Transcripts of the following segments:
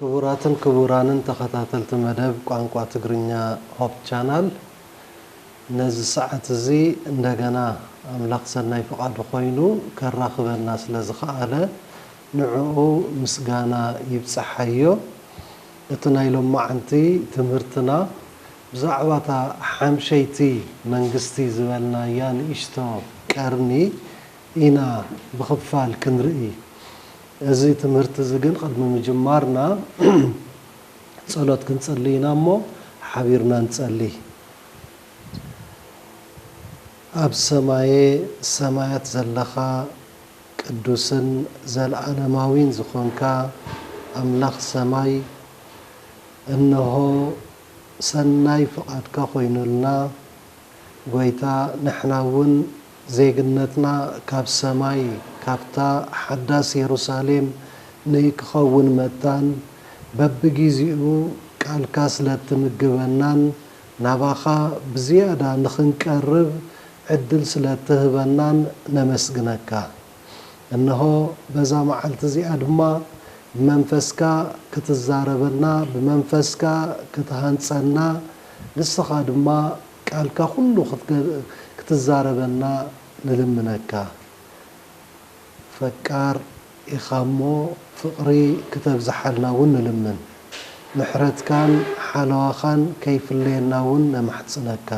ክቡራትን ክቡራንን ተኸታተልቲ መደብ ቋንቋ ትግርኛ ሆፕ ቻናል ነዚ ሰዓት እዚ እንደገና ኣምላኽ ሰናይ ፍቓዱ ኮይኑ ከራኽበና ስለ ዝኸኣለ ንዕኡ ምስጋና ይብጸሓዮ። እቲ ናይ ሎማዓንቲ ትምህርትና ብዛዕባ እታ ሓምሸይቲ መንግስቲ ዝበልናያ ንእሽቶ ቀርኒ ኢና ብኽፋል ክንርኢ። እዚ ትምህርቲ እዚ ግን ቅድሚ ምጅማርና ጸሎት ክንጽሊ ኢና እሞ ሓቢርና ንጸሊ። ኣብ ሰማየ ሰማያት ዘለኻ ቅዱስን ዘልኣለማዊን ዝኾንካ ኣምላኽ ሰማይ እንሆ ሰናይ ፍቓድካ ኮይኑልና ጎይታ ንሕና እውን ዜግነትና ካብ ሰማይ ካብታ ሓዳስ የሩሳሌም ንክኸውን መታን በብጊዚኡ ቃልካ ስለትምግበናን ናባኻ ብዝያዳ ንክንቀርብ ዕድል ስለትህበናን ነመስግነካ። እንሆ በዛ መዓልቲ እዚኣ ድማ ብመንፈስካ ክትዛረበና ብመንፈስካ ክትሃንጸና ንስኻ ድማ ቃልካ ኩሉ ክትዛረበና ንልምነካ ፈቃር ኢካ እሞ ፍቅሪ ክተብዝሓልና ውን ንልምን ምሕረትካን ሓለዋካን ከይፍለየና ውን ነማሕጽነካ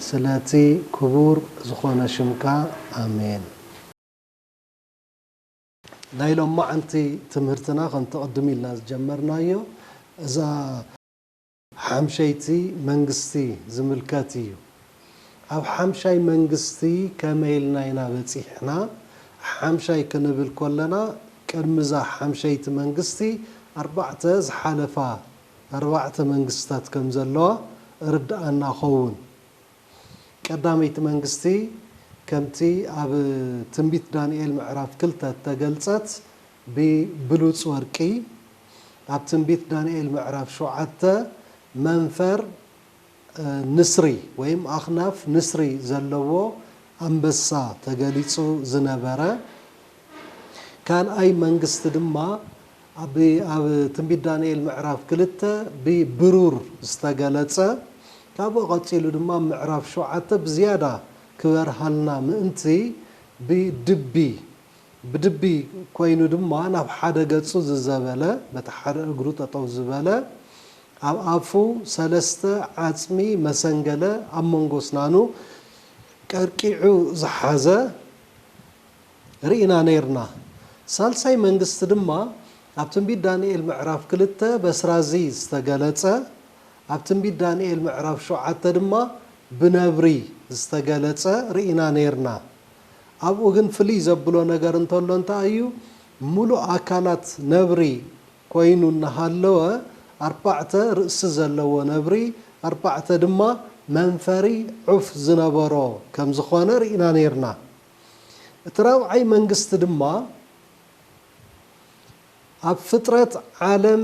ስለቲ ክቡር ዝኮነ ሽምካ ኣሜን። ናይ ሎማዓንቲ ትምህርትና ከምቲ ቅድም ኢልና ዝጀመርናዮ እዛ። ሓምሸይቲ መንግስቲ ዝምልከት ኢዩ። ኣብ ሓምሻይ መንግስቲ ከመይ ኢልና ኢና በጺሕና? ሓምሻይ ክንብል ከለና ቅድሚ እዛ ሓምሸይቲ መንግስቲ ኣርባዕተ ዝሓለፋ ኣርባዕተ መንግስትታት ከም ዘለዋ እርድኣና ኸውን። ቀዳመይቲ መንግስቲ ከምቲ ኣብ ትንቢት ዳንኤል ምዕራፍ ክልተ እተገልጸት ብብሉጽ ወርቂ፣ ኣብ ትንቢት ዳንኤል ምዕራፍ ሸውዓተ መንፈር ንስሪ ወይም ኣኽናፍ ንስሪ ዘለዎ ኣንበሳ ተገሊጹ ዝነበረ ካልኣይ መንግስቲ ድማ፣ ኣቢ ኣብ ትንቢት ዳንኤል ምዕራፍ ክልተ ብ ብሩር ዝተገለጸ ካብኡ ቀጺሉ ድማ ኣብ ምዕራፍ ሸውዓተ ብዝያዳ ክበርሃልና ምእንቲ ብ ድቢ ብ ድቢ ኮይኑ ድማ ናብ ሓደ ገጹ ዝዘበለ በቲ ሓደ እግሩ ጠጠው ዝበለ ኣብ ኣፉ ሰለስተ ዓጽሚ መሰንገለ ኣብ መንጎ ኣስናኑ ቀርቂዑ ዝሓዘ ርኢና ነይርና። ሳልሳይ መንግስቲ ድማ ኣብ ትንቢት ዳንኤል ምዕራፍ ክልተ በስራዚ ዝተገለጸ፣ ኣብ ትንቢት ዳንኤል ምዕራፍ ሸውዓተ ድማ ብነብሪ ዝተገለጸ ርኢና ነይርና። ኣብኡ ግን ፍልይ ዘብሎ ነገር እንተሎ እንታይ እዩ? ምሉእ ኣካላት ነብሪ ኮይኑ እናሃለወ ኣርባዕተ ርእሲ ዘለዎ ነብሪ ኣርባዕተ ድማ መንፈሪ ዑፍ ዝነበሮ ከም ዝኾነ ርኢና ነይርና። እቲ ራብዓይ መንግስቲ ድማ ኣብ ፍጥረት ዓለም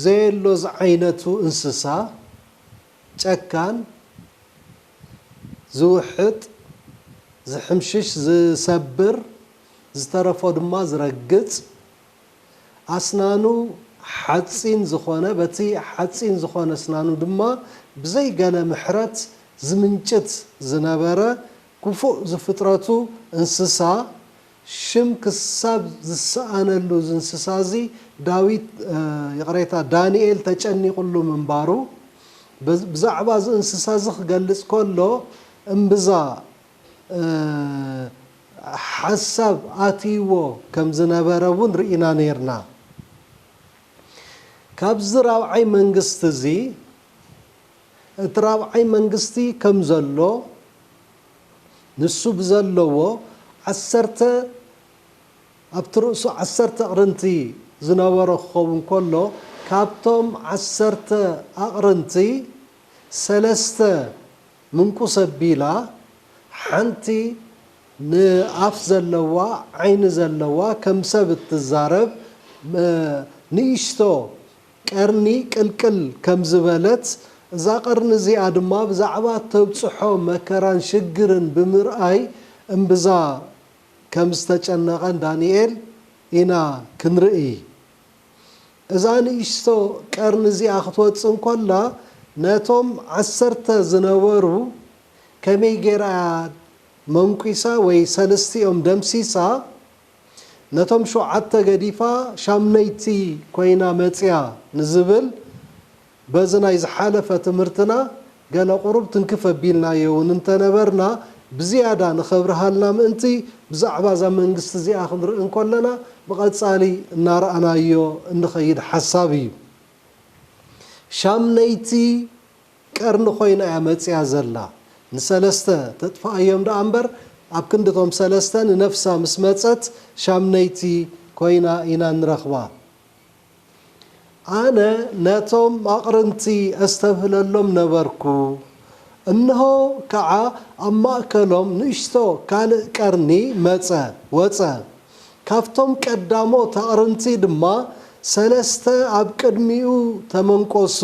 ዘየሎ ዝዓይነቱ እንስሳ ጨካን፣ ዝውሕጥ፣ ዝሕምሽሽ፣ ዝሰብር፣ ዝተረፎ ድማ ዝረግጽ፣ ኣስናኑ ሓጺን ዝኾነ በቲ ሓጺን ዝኾነ ኣስናኑ ድማ ብዘይ ገለ ምሕረት ዝምንጭት ዝነበረ ክፉእ ዝፍጥረቱ እንስሳ ሽም ክሳብ ዝሰኣነሉ ዝንስሳዚ ዳዊት ይቕሬታ ዳንኤል ተጨኒቕሉ ምንባሩ ብዛዕባ እዚ እንስሳዚ ክገልጽ ከሎ እምብዛ ሓሳብ ኣትይዎ ከም ዝነበረ እውን ርኢና ኔርና። ካብዚ ራብዓይ መንግስቲዚ፣ እቲ ራብዓይ መንግስቲ ከም ዘሎ ንሱ ብዘለዎ ዓሰርተ ኣብቲ ርእሱ ዓሰርተ ኣቕርንቲ ዝነበሮ ክኸውን ከሎ ካብቶም ዓሰርተ ኣቕርንቲ ሰለስተ ምንቁስ ኣቢላ ሓንቲ ንኣፍ ዘለዋ ዓይኒ ዘለዋ ከም ሰብ እትዛረብ ንእሽቶ ቀርኒ ቅልቅል ከም ዝበለት፣ እዛ ቀርኒ እዚኣ ድማ ብዛዕባ እተብጽሖ መከራን ሽግርን ብምርኣይ እምብዛ ከም ዝተጨነቐን ዳንኤል ኢና ክንርኢ። እዛ ንእሽቶ ቀርኒ እዚኣ ክትወጽእ እንከላ ነቶም ዓሰርተ ዝነበሩ ከመይ ገይራ እያ መንኲሳ ወይ ሰለስቲኦም ደምሲሳ ነቶም ሸውዓተ ገዲፋ ሻምነይቲ ኮይና መጽያ ንዝብል በዚ ናይ ዝሓለፈ ትምህርትና ገለ ቁሩብ ትንክፍ ኣቢልናዮ ውን እንተነበርና ብዝያዳ ንኸብርሃልና ምእንቲ ብዛዕባ እዛ መንግስቲ እዚኣ ክንርኢ እንከለና ብቐጻሊ እናረኣናዮ እንኸይድ ሓሳብ እዩ። ሻምነይቲ። ቀርኒ ኮይና እያ መጺኣ ዘላ። ንሰለስተ ተጥፍኣዮም ደኣ እምበር ኣብ ክንዲ እቶም ሰለስተ ንነፍሳ ምስ መጸት ሻምነይቲ ኮይና ኢና እንረኽባ። ኣነ ነቶም ኣቕርንቲ ኣስተብህለሎም ነበርኩ። እንሆ ከኣ ኣብ ማእከሎም ንእሽቶ ካልእ ቀርኒ መጸ፣ ወጸ። ካብቶም ቀዳሞት ኣቕርንቲ ድማ ሰለስተ ኣብ ቅድሚኡ ተመንቈሱ።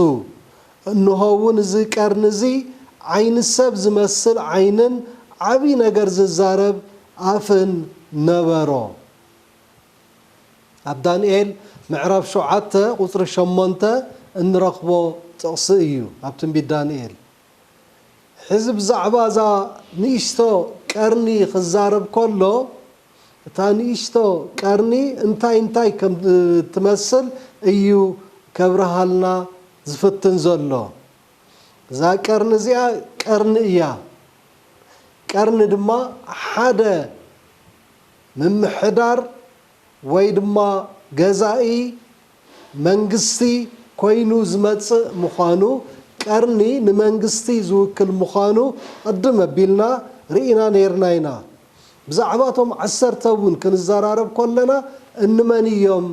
እንሆውን እዚ ቀርኒ እዚ ዓይኒ ሰብ ዝመስል ዓይንን ዓብዪ ነገር ዝዛረብ ኣፍን ነበሮ። ኣብ ዳንኤል ምዕራፍ ሸውዓተ ቁፅሪ ሸሞንተ እንረኽቦ ጥቕሲ እዩ። ኣብ ትንቢት ዳንኤል ሕዚ ብዛዕባ እዛ ንእሽቶ ቀርኒ ክዛረብ ከሎ እታ ንእሽቶ ቀርኒ እንታይ እንታይ ከምትመስል እዩ ከብርሃልና ዝፍትን ዘሎ። እዛ ቀርኒ እዚኣ ቀርኒ እያ። ቀርኒ ድማ ሓደ ምምሕዳር ወይ ድማ ገዛኢ መንግስቲ ኮይኑ ዝመጽእ ምዃኑ፣ ቀርኒ ንመንግስቲ ዝውክል ምዃኑ ቅድም ኣቢልና ርኢና ነይርና ኢና። ብዛዕባ እቶም ዓሰርተ እውን ክንዘራረብ ከሎና እንመን እዮም፣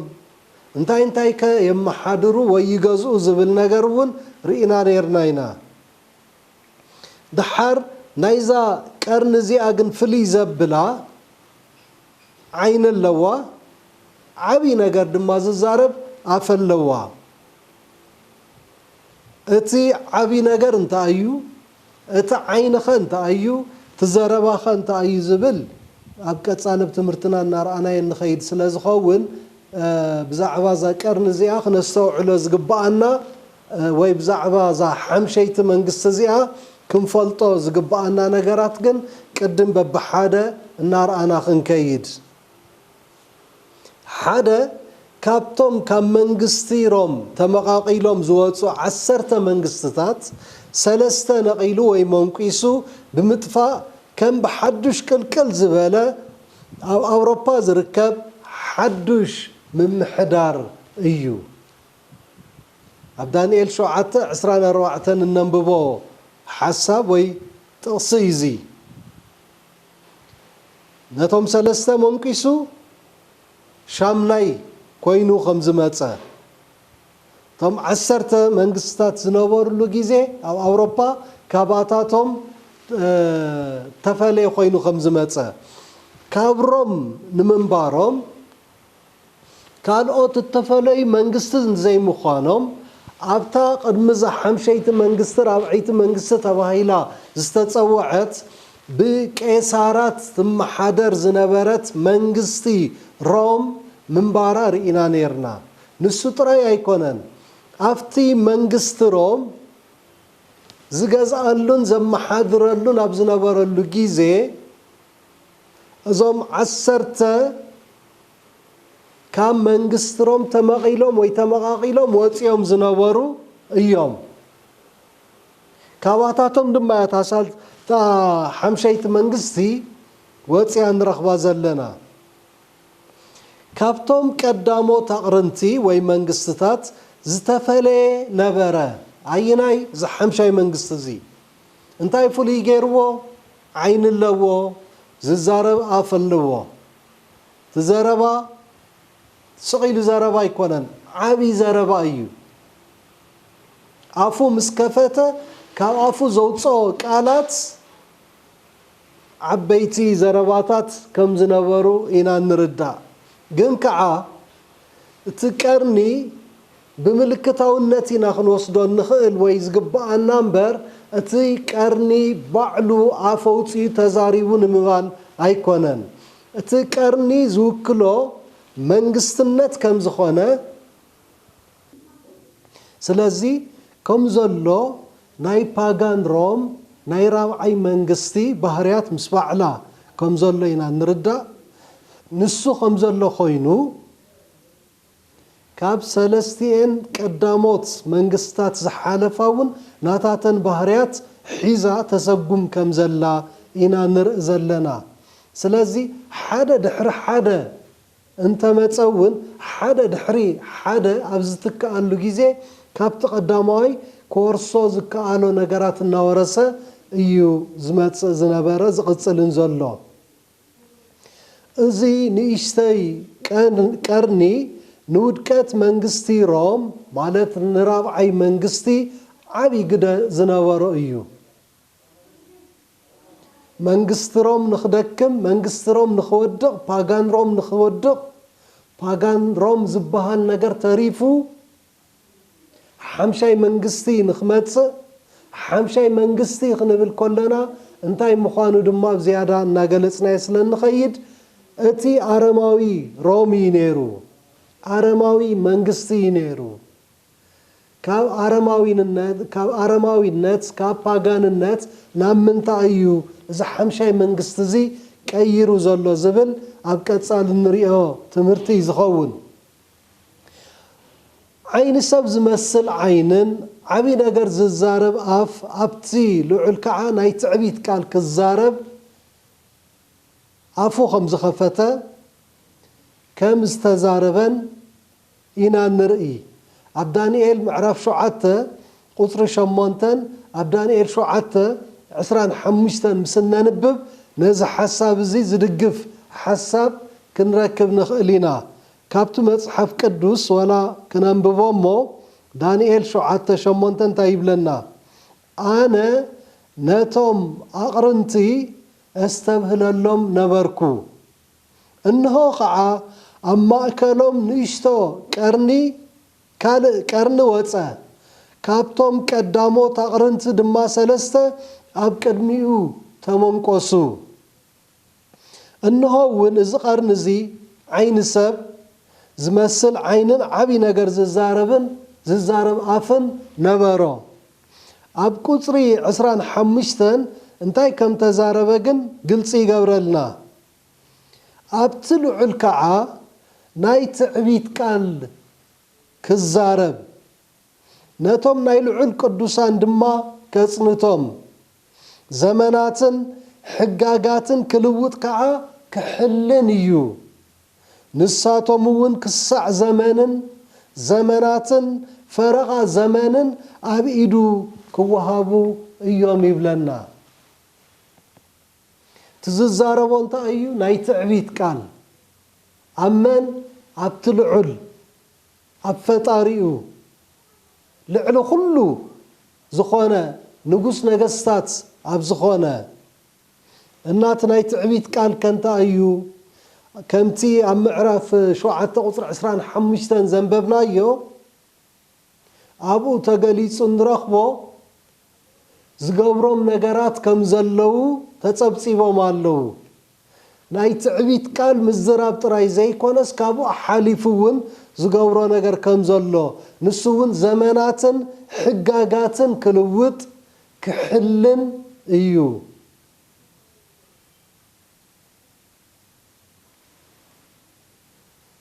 እንታይ እንታይ ከ የመሓድሩ ወይ ይገዝኡ ዝብል ነገር እውን ርኢና ነይርና ኢና። ደሓር ናይዛ ቀርኒ እዚኣ ግን ፍልይ ዘብላ፣ ዓይኒ ኣለዋ ዓቢ ነገር ድማ ዝዛረብ ኣፈ ኣለዋ እቲ ዓቢ ነገር እንታይ ኣዩ እቲ ዓይንኸ እንታይ ኣዩ እቲ ዘረባኸ እንታይ ኣዩ ዝብል ኣብ ቀጻሊ ኣብ ትምህርትና እናርኣናዮ እንኸይድ ስለ ዝኸውን ብዛዕባ እዛ ቀርኒ እዚኣ ክነስተውዕሎ ዝግብኣና ወይ ብዛዕባ እዛ ሓምሸይቲ መንግስቲ እዚኣ ክንፈልጦ ዝግበኣና ነገራት ግን ቅድም በብሓደ እናርኣና ክንከይድ። ሓደ ካብቶም ካብ መንግስቲ ሮም ተመቓቒሎም ዝወጹ ዓሰርተ መንግስትታት ሰለስተ ነቒሉ ወይ መንቊሱ ብምጥፋእ ከም ብሓዱሽ ቅልቅል ዝበለ ኣብ ኣውሮፓ ዝርከብ ሓዱሽ ምምሕዳር እዩ ኣብ ዳንኤል ሸውዓተ ዕስራን ኣርባዕተን እነንብቦ ሓሳብ ወይ ጥቕሲ እዩ እዚ። ነቶም ሰለስተ ሞንቂሱ ሻምናይ ኮይኑ ከም ዝመጸ፣ እቶም ዓሰርተ መንግስትታት ዝነበርሉ ግዜ ኣብ ኣውሮፓ ካባታቶም እተፈልየ ኮይኑ ከም ዝመጸ፣ ካብ ሮም ንምንባሮም ካልኦት እተፈለዩ መንግስቲ ዘይምዃኖም፣ ኣብታ ቅድሚ'ዛ ሓምሸይቲ መንግስቲ ራብዐይቲ መንግስቲ ተባሂላ ዝተጸውዐት ብቄሳራት ትመሓደር ዝነበረት መንግስቲ ሮም ምንባራ ርኢና ኔርና። ንሱ ጥራይ ኣይኰነን፣ ኣብቲ መንግስቲ ሮም ዝገዝኣሉን ዘመሓድረሉን ኣብ ዝነበረሉ ግዜ፣ እዞም ዓሰርተ ካብ መንግስትሮም ተመቒሎም ወይ ተመቓቒሎም ወፂኦም ዝነበሩ እዮም። ካባታቶም ድማ እያ እታ ሳል እታ ሓምሸይቲ መንግስቲ ወፂኣ ንረኽባ ዘለና። ካብቶም ቀዳሞት ኣቕርንቲ ወይ መንግስትታት ዝተፈለየ ነበረ። ኣየናይ እዚ ሓምሻይ መንግስቲ እዚ እንታይ ፍሉይ ገይርዎ ዓይኒ ኣለዎ ዝዛረብ ኣፍ ኣለዎ እቲ ዘረባ ስቅ ኢሉ ዘረባ ኣይኮነን ዓቢ ዘረባ እዩ ኣፉ ምስ ከፈተ ካብ ኣፉ ዘውጽኦ ቃላት ዓበይቲ ዘረባታት ከም ዝነበሩ ኢና እንርዳእ ግን ከኣ እቲ ቀርኒ ብምልክታውነት ኢና ክንወስዶ እንኽእል ወይ ዝግበኣና እምበር እቲ ቀርኒ ባዕሉ ኣፍ ኣውጺኡ ተዛሪቡ ንምባል ኣይኮነን። እቲ ቀርኒ ዝውክሎ መንግስትነት ከም ዝኾነ ስለዚ ከም ዘሎ ናይ ፓጋን ሮም ናይ ራብዓይ መንግስቲ ባህርያት ምስ ባዕላ ከም ዘሎ ኢና እንርዳእ። ንሱ ከም ዘሎ ኮይኑ፣ ካብ ሰለስቲኤን ቀዳሞት መንግስታት ዝሓለፋ እውን ናታተን ባህርያት ሒዛ ተሰጉም ከም ዘላ ኢና ንርኢ ዘለና። ስለዚ ሓደ ድሕሪ ሓደ እንተ መጸ እውን ሓደ ድሕሪ ሓደ ኣብ ዝትክኣሉ ግዜ ካብቲ ቀዳማዋይ ክወርሶ ዝከኣሎ ነገራት እናወረሰ እዩ ዝመጽእ ዝነበረ ዝቕጽልን ዘሎ። እዚ ንእሽተይ ቀርኒ ንውድቀት መንግስቲ ሮም፣ ማለት ንራብዓይ መንግስቲ፣ ዓቢ ግደ ዝነበሮ እዩ። መንግስቲ ሮም ንኽደክም፣ መንግስቲ ሮም ንኽወድቕ፣ ፓጋን ሮም ንኽወድቕ፣ ፓጋን ሮም ዝበሃል ነገር ተሪፉ፣ ሓምሻይ መንግስቲ ንክመጽእ፣ ሓምሻይ መንግስቲ ክንብል ከሎና እንታይ ምዃኑ ድማ ብዝያዳ እናገለጽናዮ ስለ እንኸይድ፣ እቲ ኣረማዊ ሮም እዩ ነይሩ፣ ኣረማዊ መንግስቲ እዩ ነይሩ፣ ካብ ኣረማዊንነት፣ ካብ ኣረማዊነት፣ ካብ ፓጋንነት ናብ ምንታይ እዩ እዚ ሓምሻይ መንግስቲ እዚ ቀይሩ ዘሎ ዝብል ኣብ ቀጻሊ እንርእዮ ትምህርቲ እዩ ዝኸውን። ዓይኒ ሰብ ዝመስል ዓይንን ዓቢ ነገር ዝዛረብ ኣፍ ኣብቲ ልዑል ከኣ ናይ ትዕቢት ቃል ክዛረብ ኣፉ ከም ዝኸፈተ ከም ዝተዛረበን ኢና እንርኢ ኣብ ዳንኤል ምዕራፍ ሸውዓተ ቁጽሪ ሸሞንተን ኣብ ዳንኤል ሸውዓተ ዕስራን ሓሙሽተን ምስ እነንብብ ነዚ ሓሳብ እዚ ዝድግፍ ሓሳብ ክንረክብ ንኽእል ኢና ካብቲ መጽሓፍ ቅዱስ ዋላ ክነንብቦ እሞ ዳንኤል ሸውዓተ ሸሞንተ እንታይ ይብለና ኣነ ነቶም ኣቕርንቲ ኣስተብህለሎም ነበርኩ እንሆ ኸዓ ኣብ ማእከሎም ንእሽቶ ቀርኒ ካልእ ቀርኒ ወጸ ካብቶም ቀዳሞት ኣቕርንቲ ድማ ሰለስተ ኣብ ቅድሚኡ ተመንቈሱ። እንሆ እውን እዚ ቐርኒ እዚ ዓይኒ ሰብ ዝመስል ዓይንን ዓብዪ ነገር ዝዛረብን ዝዛረብ ኣፍን ነበሮ። ኣብ ቁፅሪ ዕስራን ሓሙሽተን እንታይ ከም ተዛረበ ግን ግልፂ ይገብረልና። ኣብቲ ልዑል ከዓ ናይ ትዕቢት ቃል ክዛረብ ነቶም ናይ ልዑል ቅዱሳን ድማ ከፅንቶም ዘመናትን ሕጋጋትን ክልውጥ ከኣ ክሕልን እዩ። ንሳቶም'ውን ክሳዕ ዘመንን ዘመናትን ፈረቓ ዘመንን ኣብ ኢዱ ክወሃቡ እዮም ይብለና። እቲ ዝዛረቦ እንታይ እዩ? ናይ ትዕቢት ቃል። ኣብ መን? ኣብቲ ልዑል። ኣብ ፈጣሪኡ ልዕሊ ኹሉ ዝኾነ ንጉስ ነገስታት ኣብ ዝኾነ እናት ናይ ትዕቢት ቃል ከንት ኣዩ ከምቲ ኣብ ምዕራፍ ሸውዓተ ቁጽሪ ዕስራን ሓሙሽተን ዘንበብናዮ ኣብኡ ተገሊጹ እንረኽቦ ዝገብሮም ነገራት ከም ዘለዉ ተጸብጺቦም ኣለዉ። ናይ ትዕቢት ቃል ምዝራብ ጥራይ ዘይኮነስ ካብኡ ሓሊፉ እውን ዝገብሮ ነገር ከም ዘሎ ንሱ እውን ዘመናትን ሕጋጋትን ክልውጥ ክሕልን እዩ።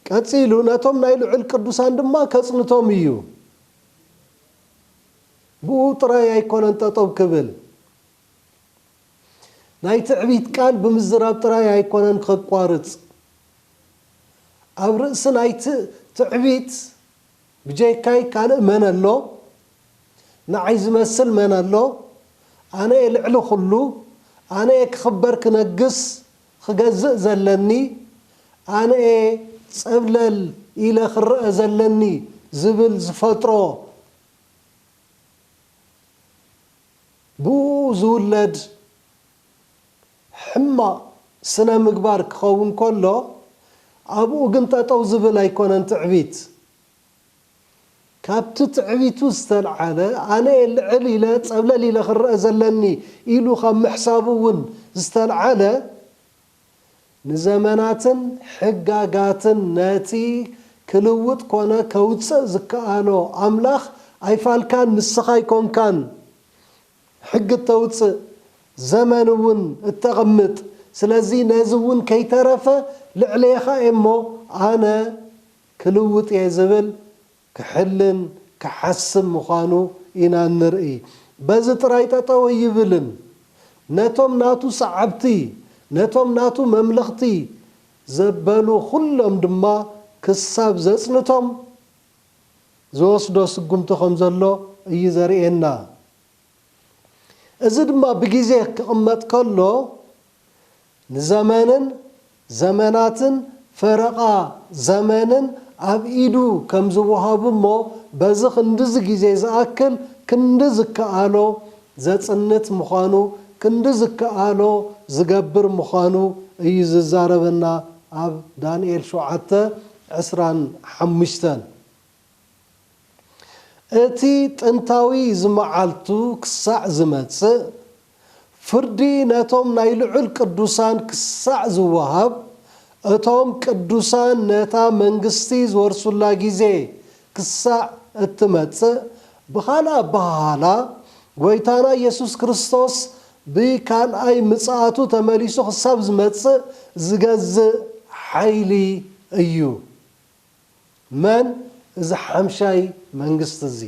ቀጺሉ ነቶም ናይ ልዑል ቅዱሳን ድማ ከጽንቶም እዩ። ብኡ ጥራይ ኣይኮነን ጠጠው ክብል፣ ናይ ትዕቢት ቃል ብምዝራብ ጥራይ ኣይኮነን ከቋርጽ፣ ኣብ ርእሲ ናይቲ ትዕቢት ብጀካይ ካልእ መን ኣሎ፣ ንዓይ ዝመስል መን ኣሎ፣ ኣነ'የ ልዕሊ ኩሉ፣ ኣነ'የ ክኽበር ክነግስ ክገዝእ ዘለኒ፣ ኣነ'የ ጸብለል ኢለ ክረኣ ዘለኒ ዝብል ዝፈጥሮ ብእኡ ዝውለድ ሕማቕ ስነ ምግባር ክኸውን ከሎ ኣብኡ ግን ጠጠው ዝብል ኣይኮነን ትዕቢት። ካብቲ ትዕቢቱ ዝተልዓለ ኣነ'የ ልዕል ኢለ ጸብለል ኢለ ክረኣ ዘለኒ ኢሉ ካብ ምሕሳቡ እውን ዝተልዓለ ንዘመናትን ሕጋጋትን ነቲ ክልውጥ ኮነ ከውጽእ ዝከኣሎ ኣምላኽ ኣይፋልካን ንስኻ ኣይኮንካን ሕጊ እተውጽእ ዘመን እውን እተቕምጥ ስለዚ ነዚ እውን ከይተረፈ ልዕሌኻ እየ እሞ ኣነ ክልውጥ እየ ዝብል ክሕልን ክሓስም ምዃኑ ኢና እንርእይ። በዚ ጥራይ ጠጠው ኣይብልን። ነቶም ናቱ ሰዓብቲ፣ ነቶም ናቱ መምለኽቲ ዘበሉ ኩሎም ድማ ክሳብ ዘጽንቶም ዝወስዶ ስጉምቲ ከም ዘሎ እዩ ዘርእየና። እዚ ድማ ብግዜ ክቕመጥ ከሎ ንዘመንን ዘመናትን ፈረቓ ዘመንን ኣብ ኢዱ ከም ዝወሃቡ እሞ በዚ ክንድዚ ግዜ ዝኣክል ክንዲ ዝከኣሎ ዘጽንት ምዃኑ ክንዲ ዝከኣሎ ዝገብር ምዃኑ እዩ ዝዛረበና ኣብ ዳንኤል ሸውዓተ ዕስራን ሓሙሽተን። እቲ ጥንታዊ ዝመዓልቱ ክሳዕ ዝመጽእ፣ ፍርዲ ነቶም ናይ ልዑል ቅዱሳን ክሳዕ ዝወሃብ፣ እቶም ቅዱሳን ነታ መንግስቲ ዝወርሱላ ጊዜ ክሳዕ እትመጽእ፣ ብኻልእ ኣበሃህላ፣ ጐይታና ኢየሱስ ክርስቶስ ብካልኣይ ምጽኣቱ ተመሊሱ ክሳብ ዝመጽእ ዝገዝእ ሓይሊ እዩ። መን እዚ ሓምሻይ መንግስቲ እዚ?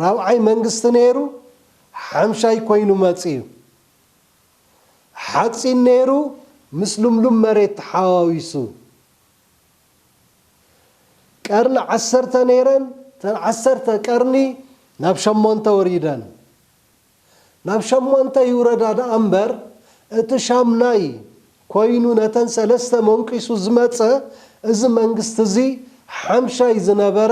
ራብዓይ መንግስቲ ነይሩ ሓምሻይ ኮይኑ መጺኡ። ሓጺን ነይሩ ምስ ልምሉም መሬት ተሓዋዊሱ። ቀርኒ ዓሰርተ ነይረን እተን ዓሰርተ ቀርኒ ናብ ሸሞንተ ወሪደን። ናብ ሸሞንተ ይውረዳ ደኣ እምበር እቲ ሻምናይ ኮይኑ ነተን ሰለስተ መንቂሱ ዝመጸ እዚ መንግስቲ እዚ ሓምሻይ ዝነበረ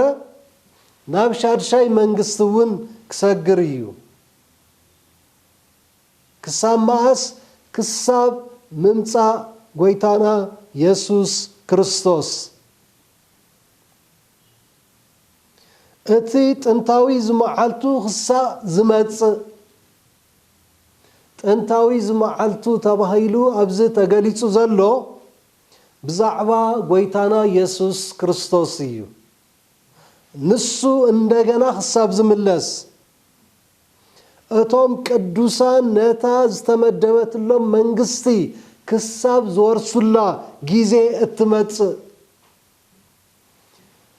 ናብ ሻድሻይ መንግስቲ እውን ክሰግር እዩ ክሳብ መኣስ ክሳብ ምምጻእ ጎይታና የሱስ ክርስቶስ። እቲ ጥንታዊ ዝመዓልቱ ክሳእ ዝመጽእ ጥንታዊ ዝመዓልቱ ተባሂሉ ኣብዚ ተገሊጹ ዘሎ ብዛዕባ ጎይታና የሱስ ክርስቶስ እዩ። ንሱ እንደገና ክሳብ ዝምለስ እቶም ቅዱሳን ነታ ዝተመደበትሎም መንግስቲ ክሳብ ዝወርሱላ ግዜ እትመጽእ፣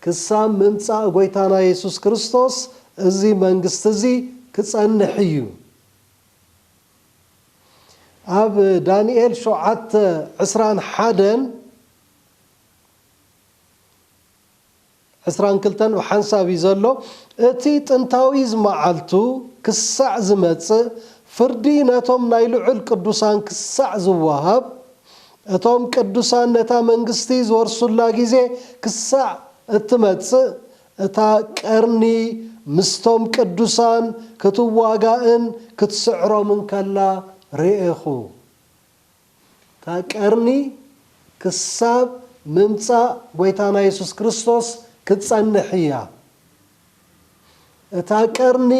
ክሳብ ምምጻእ ጐይታና የሱስ ክርስቶስ እዚ መንግስቲ እዚ ክጸንሕ እዩ። ኣብ ዳንኤል ሸውዓተ ዕስራን ሓደን ዕስራን ክልተን ብሓንሳብ እዩ ዘሎ፣ እቲ ጥንታዊዝ መዓልቱ ክሳዕ ዝመጽእ፣ ፍርዲ ነቶም ናይ ልዑል ቅዱሳን ክሳዕ ዝወሃብ፣ እቶም ቅዱሳን ነታ መንግስቲ ዝወርሱላ ግዜ ክሳዕ እትመጽእ፣ እታ ቀርኒ ምስቶም ቅዱሳን ክትዋጋእን ክትስዕሮምን ከላ ርኤኹ። እታ ቀርኒ ክሳብ ምምጻእ ጐይታና የሱስ ክርስቶስ ክትጸንሕ እያ። እታ ቀርኒ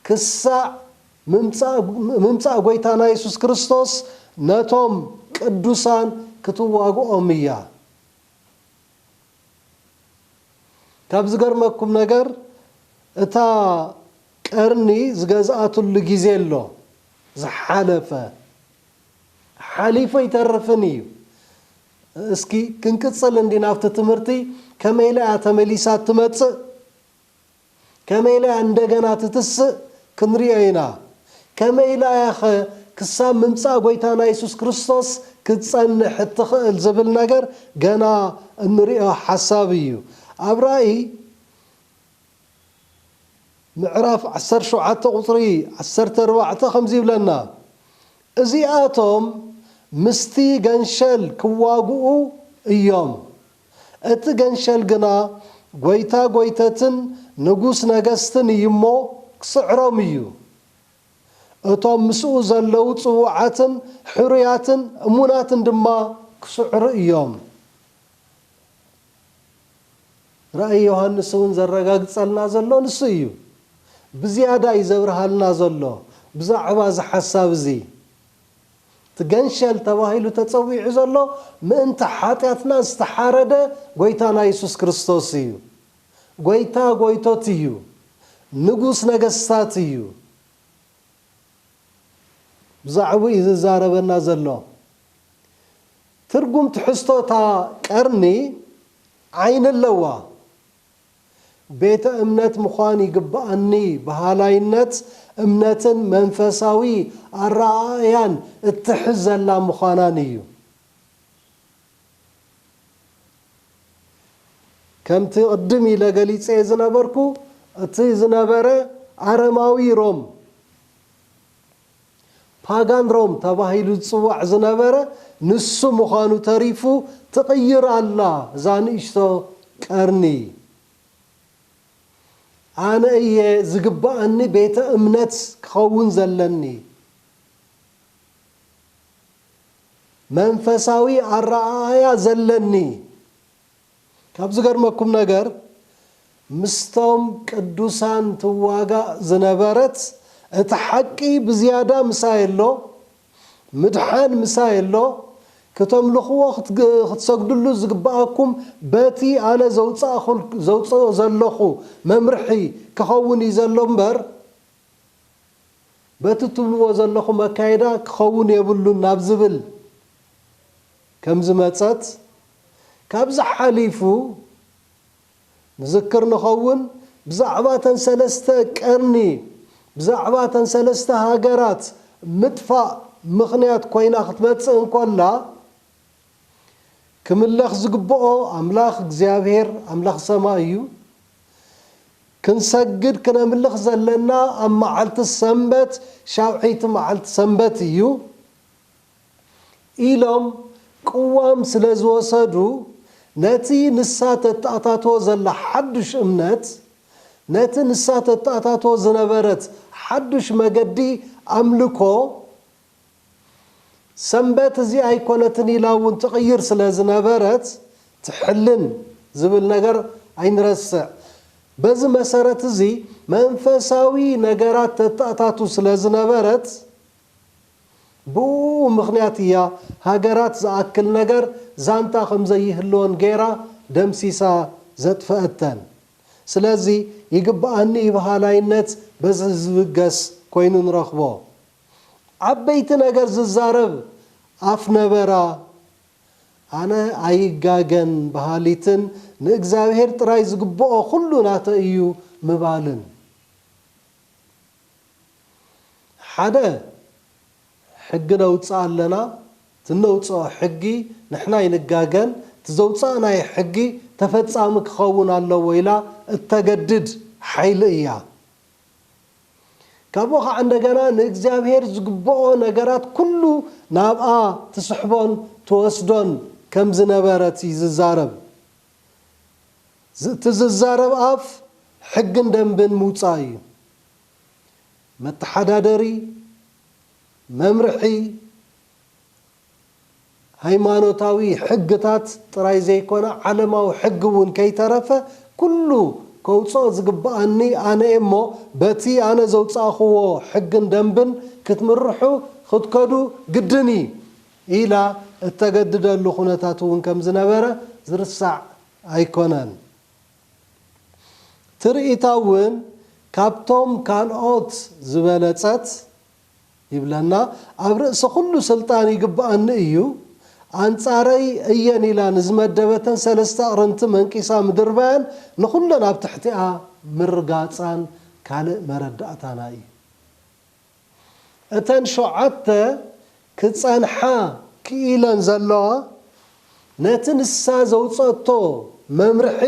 ክሳዕ ምምጻእ ጐይታና የሱስ ክርስቶስ ነቶም ቅዱሳን ክትዋግኦም እያ። ካብ ዝገርመኩም ነገር እታ ቀርኒ ዝገዝኣትሉ ግዜ ኣሎ ዝሓለፈ ሓሊፉ ኣይተርፍን እዩ እስኪ ክንቅጽል እንድዩ ናብቲ ትምህርቲ ከመይ ኢላ እያ ተመሊሳ እትመጽእ ከመይ ኢላ እያ እንደገና ትትስእ ክንሪኦ ኢና ከመይ ኢላ እያ ከ ክሳብ ምምጻእ ጎይታና የሱስ ክርስቶስ ክትጸንሕ እትኽእል ዝብል ነገር ገና እንሪኦ ሓሳብ እዩ ኣብ ራኢ ምዕራፍ ዓሰርተ ሸውዓተ ቁጽሪ ዓሰርተ ኣርባዕተ ከምዚ ይብለና፣ እዚኣቶም ምስቲ ገንሸል ኪዋግኡ እዮም፣ እቲ ገንሸል ግና ጐይታ ጐይተትን ንጉስ ነገስትን እዩ እሞ፣ ኪጽዕሮም እዩ። እቶም ምስኡ ዘለዉ ጽዉዓትን ሕሩያትን እሙናትን ድማ ኪስዕሩ እዮም። ራእይ ዮሃንስ እውን ዘረጋግጸልና ዘሎ ንሱ እዩ። ብዝያዳ እዩ ዘብርሃልና ዘሎ ብዛዕባ እዚ ሓሳብ እዚ። እቲ ገንሸል ተባሂሉ ተጸዊዑ ዘሎ ምእንቲ ሓጢኣትና ዝተሓረደ ጐይታና የሱስ ክርስቶስ እዩ። ጐይታ ጐይቶት እዩ። ንጉስ ነገስታት እዩ። ብዛዕብኡ ዝዛረበና ዘሎ ትርጉም ትሕዝቶ እታ ቀርኒ ዓይኒ ኣለዋ። ቤተ እምነት ምዃን ይግብኣኒ በሃላይነት እምነትን መንፈሳዊ ኣረኣእያን እትሕዝ ዘላ ምዃናን እዩ። ከምቲ ቅድም ኢለ ገሊጸዮ ዝነበርኩ እቲ ዝነበረ ኣረማዊ ሮም፣ Pagan Rome፣ ተባሂሉ ዝጽዋዕ ዝነበረ ንሱ ምዃኑ ተሪፉ ትቕይር ኣላ እዛ ንእሽቶ ቀርኒ። ኣነ እየ ዝግብኣኒ ቤተ እምነት ክኸውን ዘለኒ። መንፈሳዊ ኣረኣእያ ዘለኒ። ካብ ዝገርመኩም ነገር ምስቶም ቅዱሳን ትዋጋእ ዝነበረት እቲ ሓቂ ብዝያዳ ምሳይ ኣሎ ምድሓን ምሳይ ኣሎ ክተምልኽዎ ክትሰግድሉ ዝግብኣኩም በቲ ኣነ ዘውጽእኦ ዘለኹ መምርሒ ክኸውን እዩ ዘሎ እምበር በቲ እትብልዎ ዘለኹም ኣካይዳ ክኸውን የብሉን ናብ ዝብል ከምዝመፀት ካብዚ ሓሊፉ ንዝክር ንኸውን ብዛዕባ እተን ሰለስተ ቀርኒ ብዛዕባ እተን ሰለስተ ሃገራት ምጥፋእ ምኽንያት ኮይና ክትመፅእ እንኮላ ክምለኽ ዝግብኦ ኣምላኽ እግዚኣብሄር ኣምላኽ ሰማይ እዩ። ክንሰግድ ክነምልኽ ዘለና ኣብ መዓልቲ ሰንበት ሻውዐይቲ መዓልቲ ሰንበት እዩ ኢሎም ቅዋም ስለ ዝወሰዱ ነቲ ንሳ ተተኣታቶ ዘላ ሓዱሽ እምነት ነቲ ንሳ ተተኣታቶ ዝነበረት ሓዱሽ መገዲ ኣምልኮ ሰንበት እዚ ኣይኮነትን ኢላ እውን ትቕይር ስለ ዝነበረት ትሕልን ዝብል ነገር ኣይንረስዕ። በዚ መሰረት እዚ መንፈሳዊ ነገራት ተተኣታቱ ስለ ዝነበረት ብእኡ ምኽንያት እያ ሃገራት ዝኣክል ነገር ዛንታ ከም ዘይህልወን ገይራ ደምሲሳ ዘጥፈአተን። ስለዚ ይግበኣኒ ይብሃላይነት በዚ ዝብገስ ኮይኑ ንረኽቦ። ዓበይቲ ነገር ዝዛረብ ኣፍ ነበራ። ኣነ ኣይጋገን በሃሊትን ንእግዚኣብሄር ጥራይ ዝግብኦ ኩሉ ናተይ እዩ ምባልን። ሓደ ሕጊ ነውጽእ ኣለና እቲ እነውጽኦ ሕጊ ንሕና ኣይንጋገን እቲ ዘውጻእናዮ ሕጊ ተፈጻሚ ክኸውን ኣለዎ ኢላ እተገድድ ሓይሊ እያ። ካብኡ ኸዓ እንደገና ንእግዚኣብሔር ዝግብኦ ነገራት ኩሉ ናብኣ ትስሕቦን ትወስዶን ከም ዝነበረት እዩ ዝዛረብ። እቲ ዝዛረብ ኣፍ ሕግን ደንብን ምውፃእ እዩ። መተሓዳደሪ፣ መምርሒ፣ ሃይማኖታዊ ሕግታት ጥራይ ዘይኮነ ዓለማዊ ሕጊ እውን ከይተረፈ ኩሉ ከውጽኦ ዝግብኣኒ ኣነ'የ እሞ በቲ ኣነ ዘውጻእክዎ ሕግን ደንብን ክትምርሑ፣ ክትከዱ፣ ግድን ኢዩ ኢላ እተገድደሉ ኩነታት እውን ከም ዝነበረ ዝርሳዕ ኣይኮነን። ትርኢታ እውን ካብቶም ካልኦት ዝበለጸት ይብለና ኣብ ርእሲ ኩሉ ስልጣን ይግብኣኒ እዩ ኣንጻረይ እየን ኢላ ንዝመደበተን ሰለስተ ኣቕርንቲ መንቂሳ ምድርባያን ንኹለን ኣብ ትሕቲኣ ምርጋጻን ካልእ መረዳእታና እዩ። እተን ሸውዓተ ክጸንሓ ክኢለን ዘለዋ ነቲ ንሳ ዘውጸእቶ መምርሒ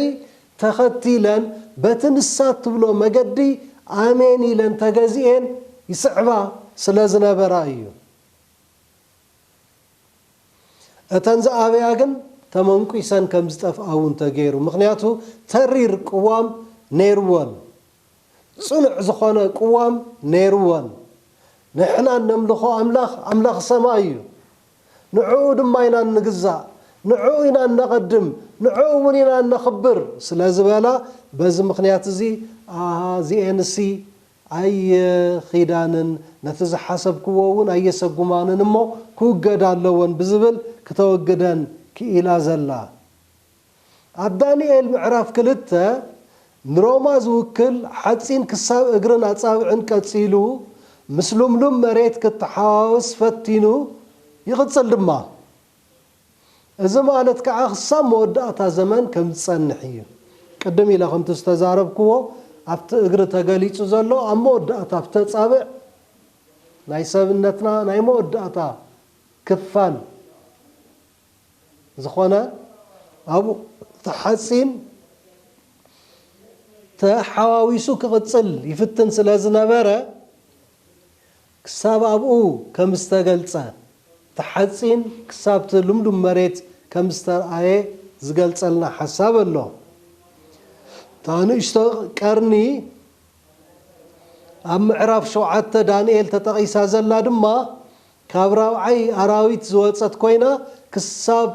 ተኸቲለን በቲ ንሳ እትብሎ መገዲ ኣሜን ኢለን ተገዚኤን ይስዕባ ስለ ዝነበራ እዩ። እተን ዝኣበያ ግን ተመንቊሰን ከም ዝጠፍኣ እውን ተገይሩ፣ ምኽንያቱ ተሪር ቅዋም ነይርወን፣ ጽኑዕ ዝኾነ ቅዋም ነይርወን። ንሕና እነምልኾ ኣምላኽ፣ ኣምላኽ ሰማይ እዩ። ንዕኡ ድማ ኢና እንግዛእ፣ ንዕኡ ኢና እነቐድም፣ ንዕኡ እውን ኢና እነኽብር ስለ ዝበላ በዚ ምኽንያት እዚ ኣሃ እዚኤንሲ ኣይኺዳንን፣ ነቲ ዝሓሰብክዎ እውን ኣየሰጉማንን እሞ ክውገዳ ኣለወን ብዝብል ክተወግደን ክኢላ ዘላ። ኣብ ዳንኤል ምዕራፍ ክልተ፣ ንሮማ ዝውክል ሓጺን ክሳብ እግርን ኣጻብዕን ቀጺሉ ምስ ልምሉም መሬት ክተሓዋወስ ፈቲኑ ይቕጽል ድማ። እዚ ማለት ከኣ ክሳብ መወዳእታ ዘመን ከም ዝጸንሕ ኢዩ። ቅድም ኢለ ከምቲ ዝተዛረብክዎ ኣብቲ እግሪ ተገሊጹ ዘሎ ኣብ መወዳእታ ኣብቲ ኣጻብዕ ናይ ሰብነትና ናይ መወዳእታ ክፋል፣ ዝኾነ ኣብ እቲ ሓጺን ተሓዋዊሱ ክቕጽል ይፍትን ስለ ዝነበረ፣ ክሳብ ኣብኡ ከም ዝተገልጸ፣ እቲ ሓጺን ክሳብ'ቲ ልምሉም መሬት ከም ዝተርኣየ ዝገልጸልና ሓሳብ ኣሎ። እታ ንእሽቶ ቀርኒ ኣብ ምዕራፍ ሸውዓተ ዳንኤል ተጠቒሳ ዘላ ድማ፣ ካብ ራብዓይ ኣራዊት ዝወጸት ኮይና ክሳብ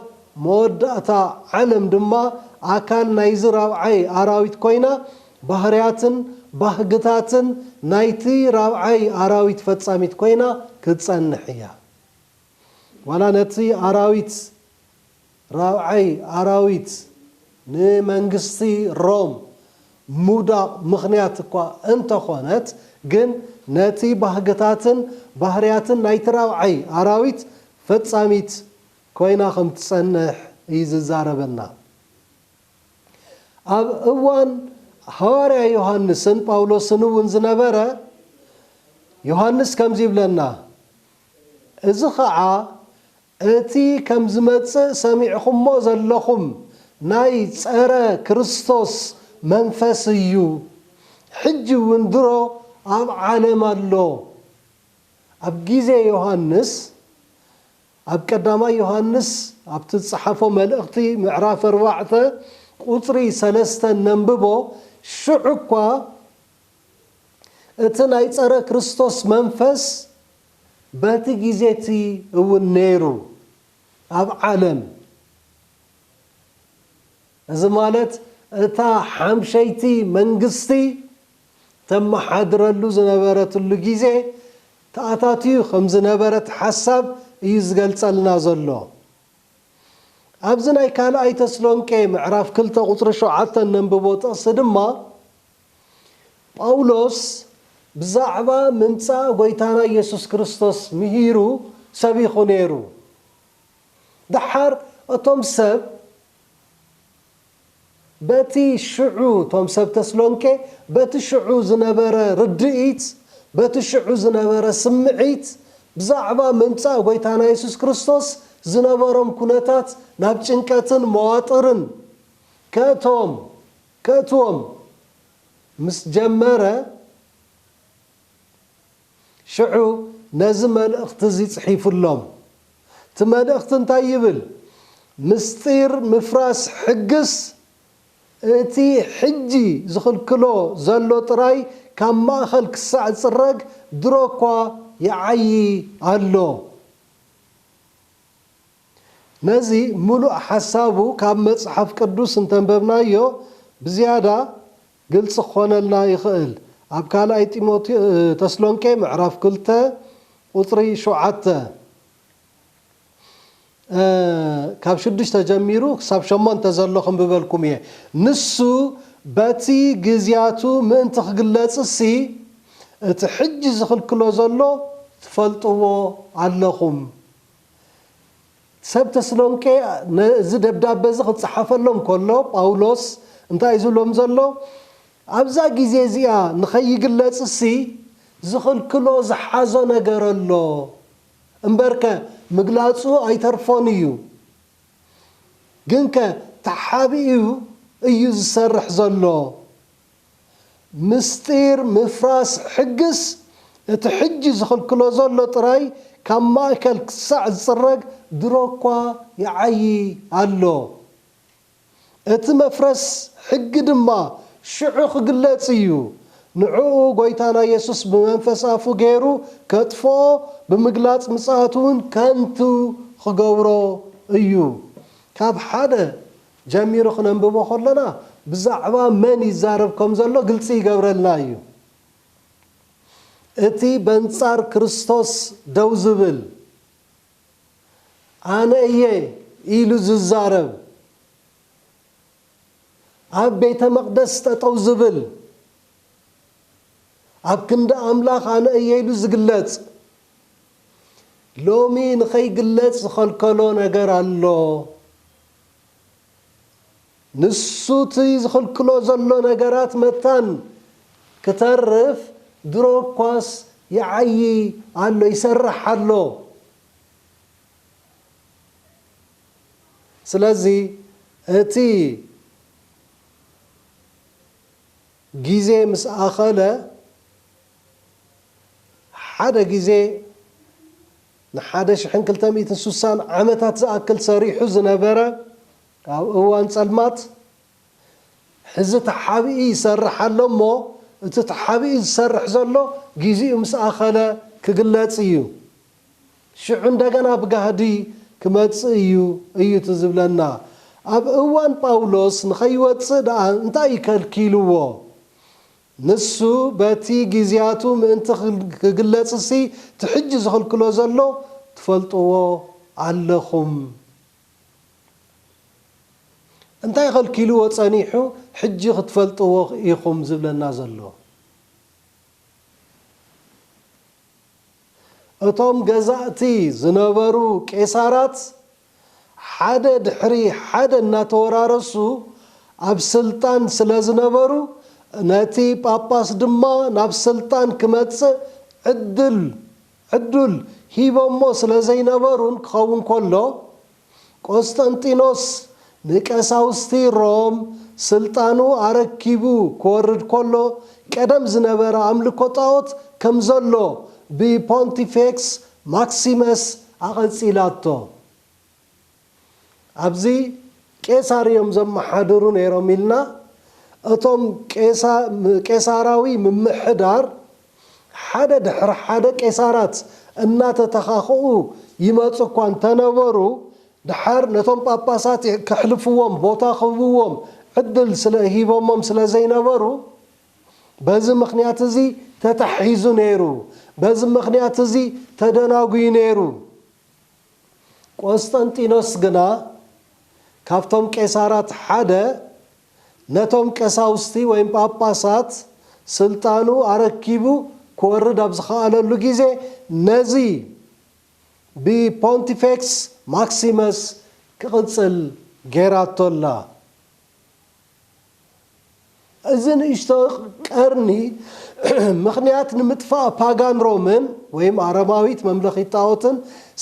መወዳእታ ዓለም ድማ ኣካል ናይዚ ራብዓይ ኣራዊት ኮይና ባህርያትን ባህግታትን ናይቲ ራብዓይ ኣራዊት ፈጻሚት ኮይና ክትጸንሕ እያ። ዋላ ነቲ ኣራዊት ራብዓይ ኣራዊት ንመንግስቲ ሮም ምውዳቕ ምኽንያት እኳ እንተኾነት ግን ነቲ ባህግታትን ባህርያትን ናይቲ ራብዓይ ኣራዊት ፈጻሚት ኮይና ከም ትጸንሕ እዩ ዝዛረበና። ኣብ እዋን ሃዋርያ ዮሃንስን ጳውሎስን እውን ዝነበረ ዮሃንስ ከምዚ ይብለና እዚ ኸዓ እቲ ከም ዝመጽእ ሰሚዕኹሞ ዘለኹም ናይ ጸረ ክርስቶስ መንፈስ እዩ ሕጂ ውን ድሮ ኣብ ዓለም ኣሎ ኣብ ግዜ ዮሃንስ ኣብ ቀዳማይ ዮሃንስ ኣብቲ ዝጸሓፎ መልእኽቲ ምዕራፍ ኣርባዕተ ቁጽሪ ሰለስተ ነንብቦ ሽዑ እኳ እቲ ናይ ጸረ ክርስቶስ መንፈስ በቲ ግዜ እቲ እውን ነይሩ ኣብ ዓለም፣ እዚ ማለት እታ ሓምሸይቲ መንግስቲ ተመሓድረሉ ዝነበረትሉ ግዜ፣ ተኣታትዩ ከም ዝነበረ እቲ ሓሳብ እዩ ዝገልጸልና ዘሎ። ኣብዚ ናይ ካልኣይ ተስሎንቄ ምዕራፍ ክልተ ቁጽሪ ሸውዓተ እነንብቦ ጥቕሲ ድማ፣ ጳውሎስ ብዛዕባ ምምጻእ ጐይታና የሱስ ክርስቶስ ምሂሩ ሰቢኹ ነይሩ። ደሓር እቶም ሰብ በቲ ሽዑ እቶም ሰብ ተስሎንቄ በቲ ሽዑ ዝነበረ ርድኢት በቲ ሽዑ ዝነበረ ስምዒት ብዛዕባ ምምጻእ ጐይታና የሱስ ክርስቶስ ዝነበሮም ኩነታት ናብ ጭንቀትን መዋጥርን ከእቶም ከእትዎም ምስ ጀመረ ሽዑ ነዚ መልእኽቲ እዚ ጽሒፉሎም። እቲ መልእኽቲ እንታይ ይብል? ምስጢር ምፍራስ ሕግስ እቲ ሕጂ ዝኽልክሎ ዘሎ ጥራይ ካብ ማእከል ክሳዕ ዝጽረግ ድሮ እኳ ይዓዪ ኣሎ። ነዚ ምሉእ ሓሳቡ ካብ መጽሓፍ ቅዱስ እንተንበብናዮ ብዝያዳ ግልጺ ክኾነልና ይኽእል። ኣብ ካልኣይ ተስሎንቄ ምዕራፍ ክልተ ቁጽሪ ሸውዓተ፣ ካብ ሽዱሽተ ጀሚሩ ክሳብ ሸሞንተ ዘሎ ክንብበልኩም እየ። ንሱ በቲ ግዝያቱ ምእንቲ ክግለጽሲ እቲ ሕጂ ዝኽልክሎ ዘሎ ትፈልጥዎ ኣለኹም። ሰብ ተስሎንቄ ነዚ ደብዳበ እዚ ኽጽሓፈሎም ከሎ፣ ጳውሎስ እንታይ እዩ ዝብሎም ዘሎ? ኣብዛ ግዜ እዚኣ ንኸይግለጽሲ ዝኽልክሎ ዝሓዞ ነገር ኣሎ እምበርከ ምግላጹ ኣይተርፎን እዩ። ግንከ ተሓቢኡ እዩ ዝሰርሕ ዘሎ። ምስጢር ምፍራስ ሕግስ እቲ ሕጂ ዝኽልክሎ ዘሎ ጥራይ ካብ ማእከል ክሳዕ ዝጽረግ ድሮ እኳ ይዓዪ ኣሎ። እቲ መፍረስ ሕጊ ድማ ሽዑ ክግለጽ ኢዩ። ንዕኡ ጐይታና የሱስ ብመንፈስ ኣፉ ገይሩ ከጥፍኦ ብምግላጽ ምጽኣቱ እውን ከንቱ ክገብሮ ኢዩ። ካብ ሓደ ጀሚሩ ክነንብቦ ከሎና ብዛዕባ መን ይዛረብ ከም ዘሎ ግልጺ ይገብረልና እዩ። እቲ በንጻር ክርስቶስ ደው ዝብል፣ ኣነ እየ ኢሉ ዝዛረብ፣ ኣብ ቤተ መቕደስ ጠጠው ዝብል፣ ኣብ ክንዲ ኣምላኽ ኣነ እየ ኢሉ ዝግለጽ፣ ሎሚ ንኸይግለጽ ዝኸልከሎ ነገር ኣሎ። ንሱ እቲ ዝኽልክሎ ዘሎ ነገራት መታን ክተርፍ ድሮ እኳስ ይዓዪ ኣሎ፣ ይሰርሕ ኣሎ። ስለዚ እቲ ግዜ ምስ ኣኸለ ሓደ ግዜ፣ ንሓደ ሽሕን ክልተ ሚእትን ስሳን ዓመታት ዝኣክል ሰሪሑ ዝነበረ ኣብ እዋን ፀልማት ሕዚ ተሓቢኢ ይሰርሕ ኣሎ እሞ እቲ ተሓቢኢ ዝሰርሕ ዘሎ ጊዚኡ ምስ ኣኸለ ክግለፅ እዩ ሽዑ እንደገና ብጋህዲ ክመፅእ እዩ እዩ እቲ ዝብለና ኣብ እዋን ጳውሎስ ንኸይወፅእ ደኣ እንታይ እዩ ከልኪልዎ ንሱ በቲ ግዝያቱ ምእንቲ ክግለጽሲ እቲ ሕጂ ዝኽልክሎ ዘሎ ትፈልጥዎ ኣለኹም። እንታይ ከልኪልዎ ጸኒሑ ሕጂ ክትፈልጥዎ ኢኹም ዝብለና ዘሎ። እቶም ገዛእቲ ዝነበሩ ቄሳራት ሓደ ድሕሪ ሓደ እናተወራረሱ ኣብ ስልጣን ስለ ዝነበሩ ነቲ ጳጳስ ድማ ናብ ስልጣን ክመጽእ ዕድል፣ ዕዱል፣ ሂቦሞ ስለ ዘይነበሩን ክኸውን ከሎ፣ ቆስጠንጢኖስ ንቀሳውስቲ ሮም ስልጣኑ ኣረኪቡ ክወርድ ከሎ ቀደም ዝነበረ ኣምልኮ ጣኦት ከም ዘሎ ብፖንቲፌክስ ማክሲመስ ኣቐጺላቶ። ኣብዚ ቄሳር እዮም ዘመሓድሩ ነይሮም ኢልና እቶም ቄሳራዊ ምምሕዳር ሓደ ድሕሪ ሓደ ቄሳራት እናተተኻኽኡ ይመጹ እኳ እንተ ነበሩ፣ ደሓር ነቶም ጳጳሳት ኬሕልፍዎም ቦታ ኺህብዎም ዕድል ስለ ሂቦሞም ስለ ዘይነበሩ፣ በዚ ምኽንያት እዚ ተታሒዙ ነይሩ፣ በዚ ምኽንያት እዚ ተደናጕዩ ነይሩ። ቈስጠንጢኖስ ግና ካብቶም ቄሳራት ሓደ ነቶም ቀሳውስቲ ወይም ጳጳሳት ስልጣኑ ኣረኪቡ ክወርድ ኣብ ዝኸኣለሉ ግዜ ነዚ ብፖንቲፌክስ ማክሲመስ ክቕጽል ገይራቶ ኣላ። እዚ ንእሽቶ ቀርኒ ምኽንያት ንምጥፋእ ፓጋን ሮምን ወይም ኣረማዊት መምለኺት ጣኦትን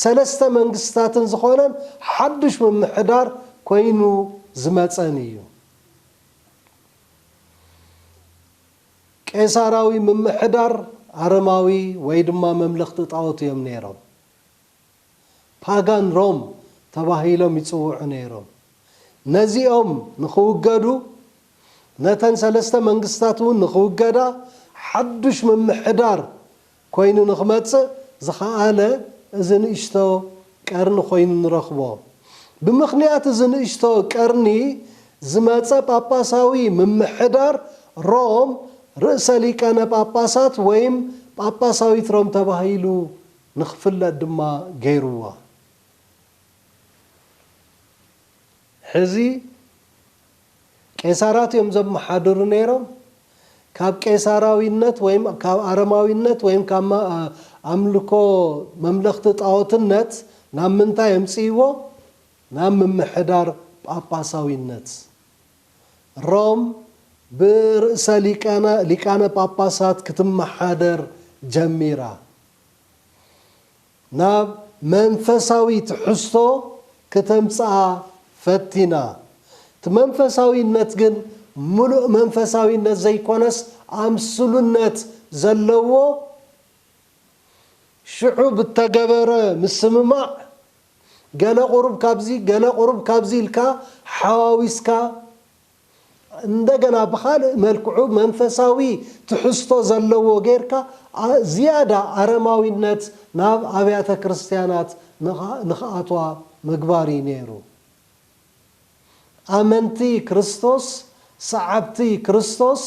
ሰለስተ መንግስትታትን ዝኾነን ሓዱሽ ምምሕዳር ኮይኑ ዝመጸን እዩ። ቄሳራዊ ምምሕዳር ኣረማዊ ወይ ድማ መምለኽቲ ጣኦት እዮም ነይሮም። ፓጋን ሮም ተባሂሎም ይጽውዑ ነይሮም። ነዚኦም ንኽውገዱ ነተን ሰለስተ መንግስታት እውን ንኽውገዳ ሓዱሽ ምምሕዳር ኮይኑ ንኽመጽእ ዝኸኣለ እዚ ንእሽቶ ቀርኒ ኮይኑ ንረኽቦ። ብምኽንያት እዚ ንእሽቶ ቀርኒ ዝመጸ ጳጳሳዊ ምምሕዳር ሮም ርእሰ ሊቃነ ጳጳሳት ወይም ጳጳሳዊት ሮም ተባሂሉ ንኽፍለጥ ድማ ገይርዎ። ሕዚ። ቄሳራት እዮም ዘመሓድሩ ነይሮም። ካብ ቄሳራዊነት ወይም ካብ ኣረማዊነት ወይም ካብ ኣምልኮ መምለኽቲ ጣኦትነት ናብ ምንታይ ኣምጺእዎ? ናብ ምምሕዳር ጳጳሳዊነት። ሮም ብርእሰ ሊቃነ ጳጳሳት ክትመሓደር ጀሚራ። ናብ መንፈሳዊ ትሕዝቶ ክተምጽኣ ፈቲና። እቲ መንፈሳዊነት ግን ምሉእ መንፈሳዊነት ዘይኮነስ ኣምስሉነት ዘለዎ ሽዑ ብተገበረ ምስምማዕ ገለ ቁሩብ ካብዚ ገለ ቁሩብ ካብዚ ኢልካ ሓዋዊስካ እንደገና ብኻልእ መልክዑ መንፈሳዊ ትሕዝቶ ዘለዎ ጌርካ ዝያዳ ኣረማዊነት ናብ ኣብያተ ክርስትያናት ንኽኣትዋ ምግባር እዩ ነይሩ። ኣመንቲ ክርስቶስ፣ ሰዓብቲ ክርስቶስ፣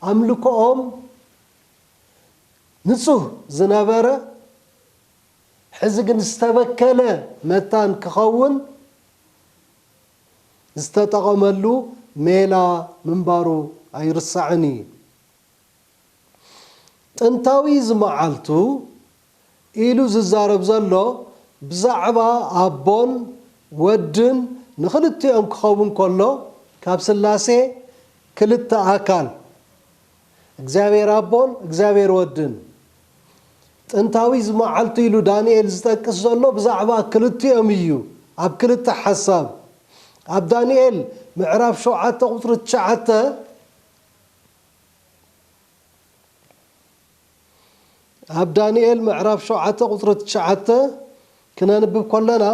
ኣምልኮኦም ንጹህ ዝነበረ ሕዚ ግን ዝተበከለ መታን ክኸውን፣ ዝተጠቐመሉ ሜላ ምንባሩ ኣይርሳዕን እዩ። ጥንታዊ እዚ መዓልቱ ኢሉ ዝዛረብ ዘሎ ብዛዕባ ኣቦን ወድን ንኽልቲኦም ክኸውን ከሎ ካብ ስላሴ ክልተ ኣካል፣ እግዚኣብሔር ኣቦን እግዚኣብሔር ወድን። ጥንታዊ ዝመዓልቱ ኢሉ ዳንኤል ዝጠቅስ ዘሎ ብዛዕባ ክልቲኦም እዩ ኣብ ክልተ ሓሳብ። ኣብ ዳንኤል ምዕራፍ ሸውዓተ ቁጽሪ ትሽዓተ ኣብ ዳንኤል ምዕራፍ ሸውዓተ ቁጽሪ ትሽዓተ ክነንብብ ከሎና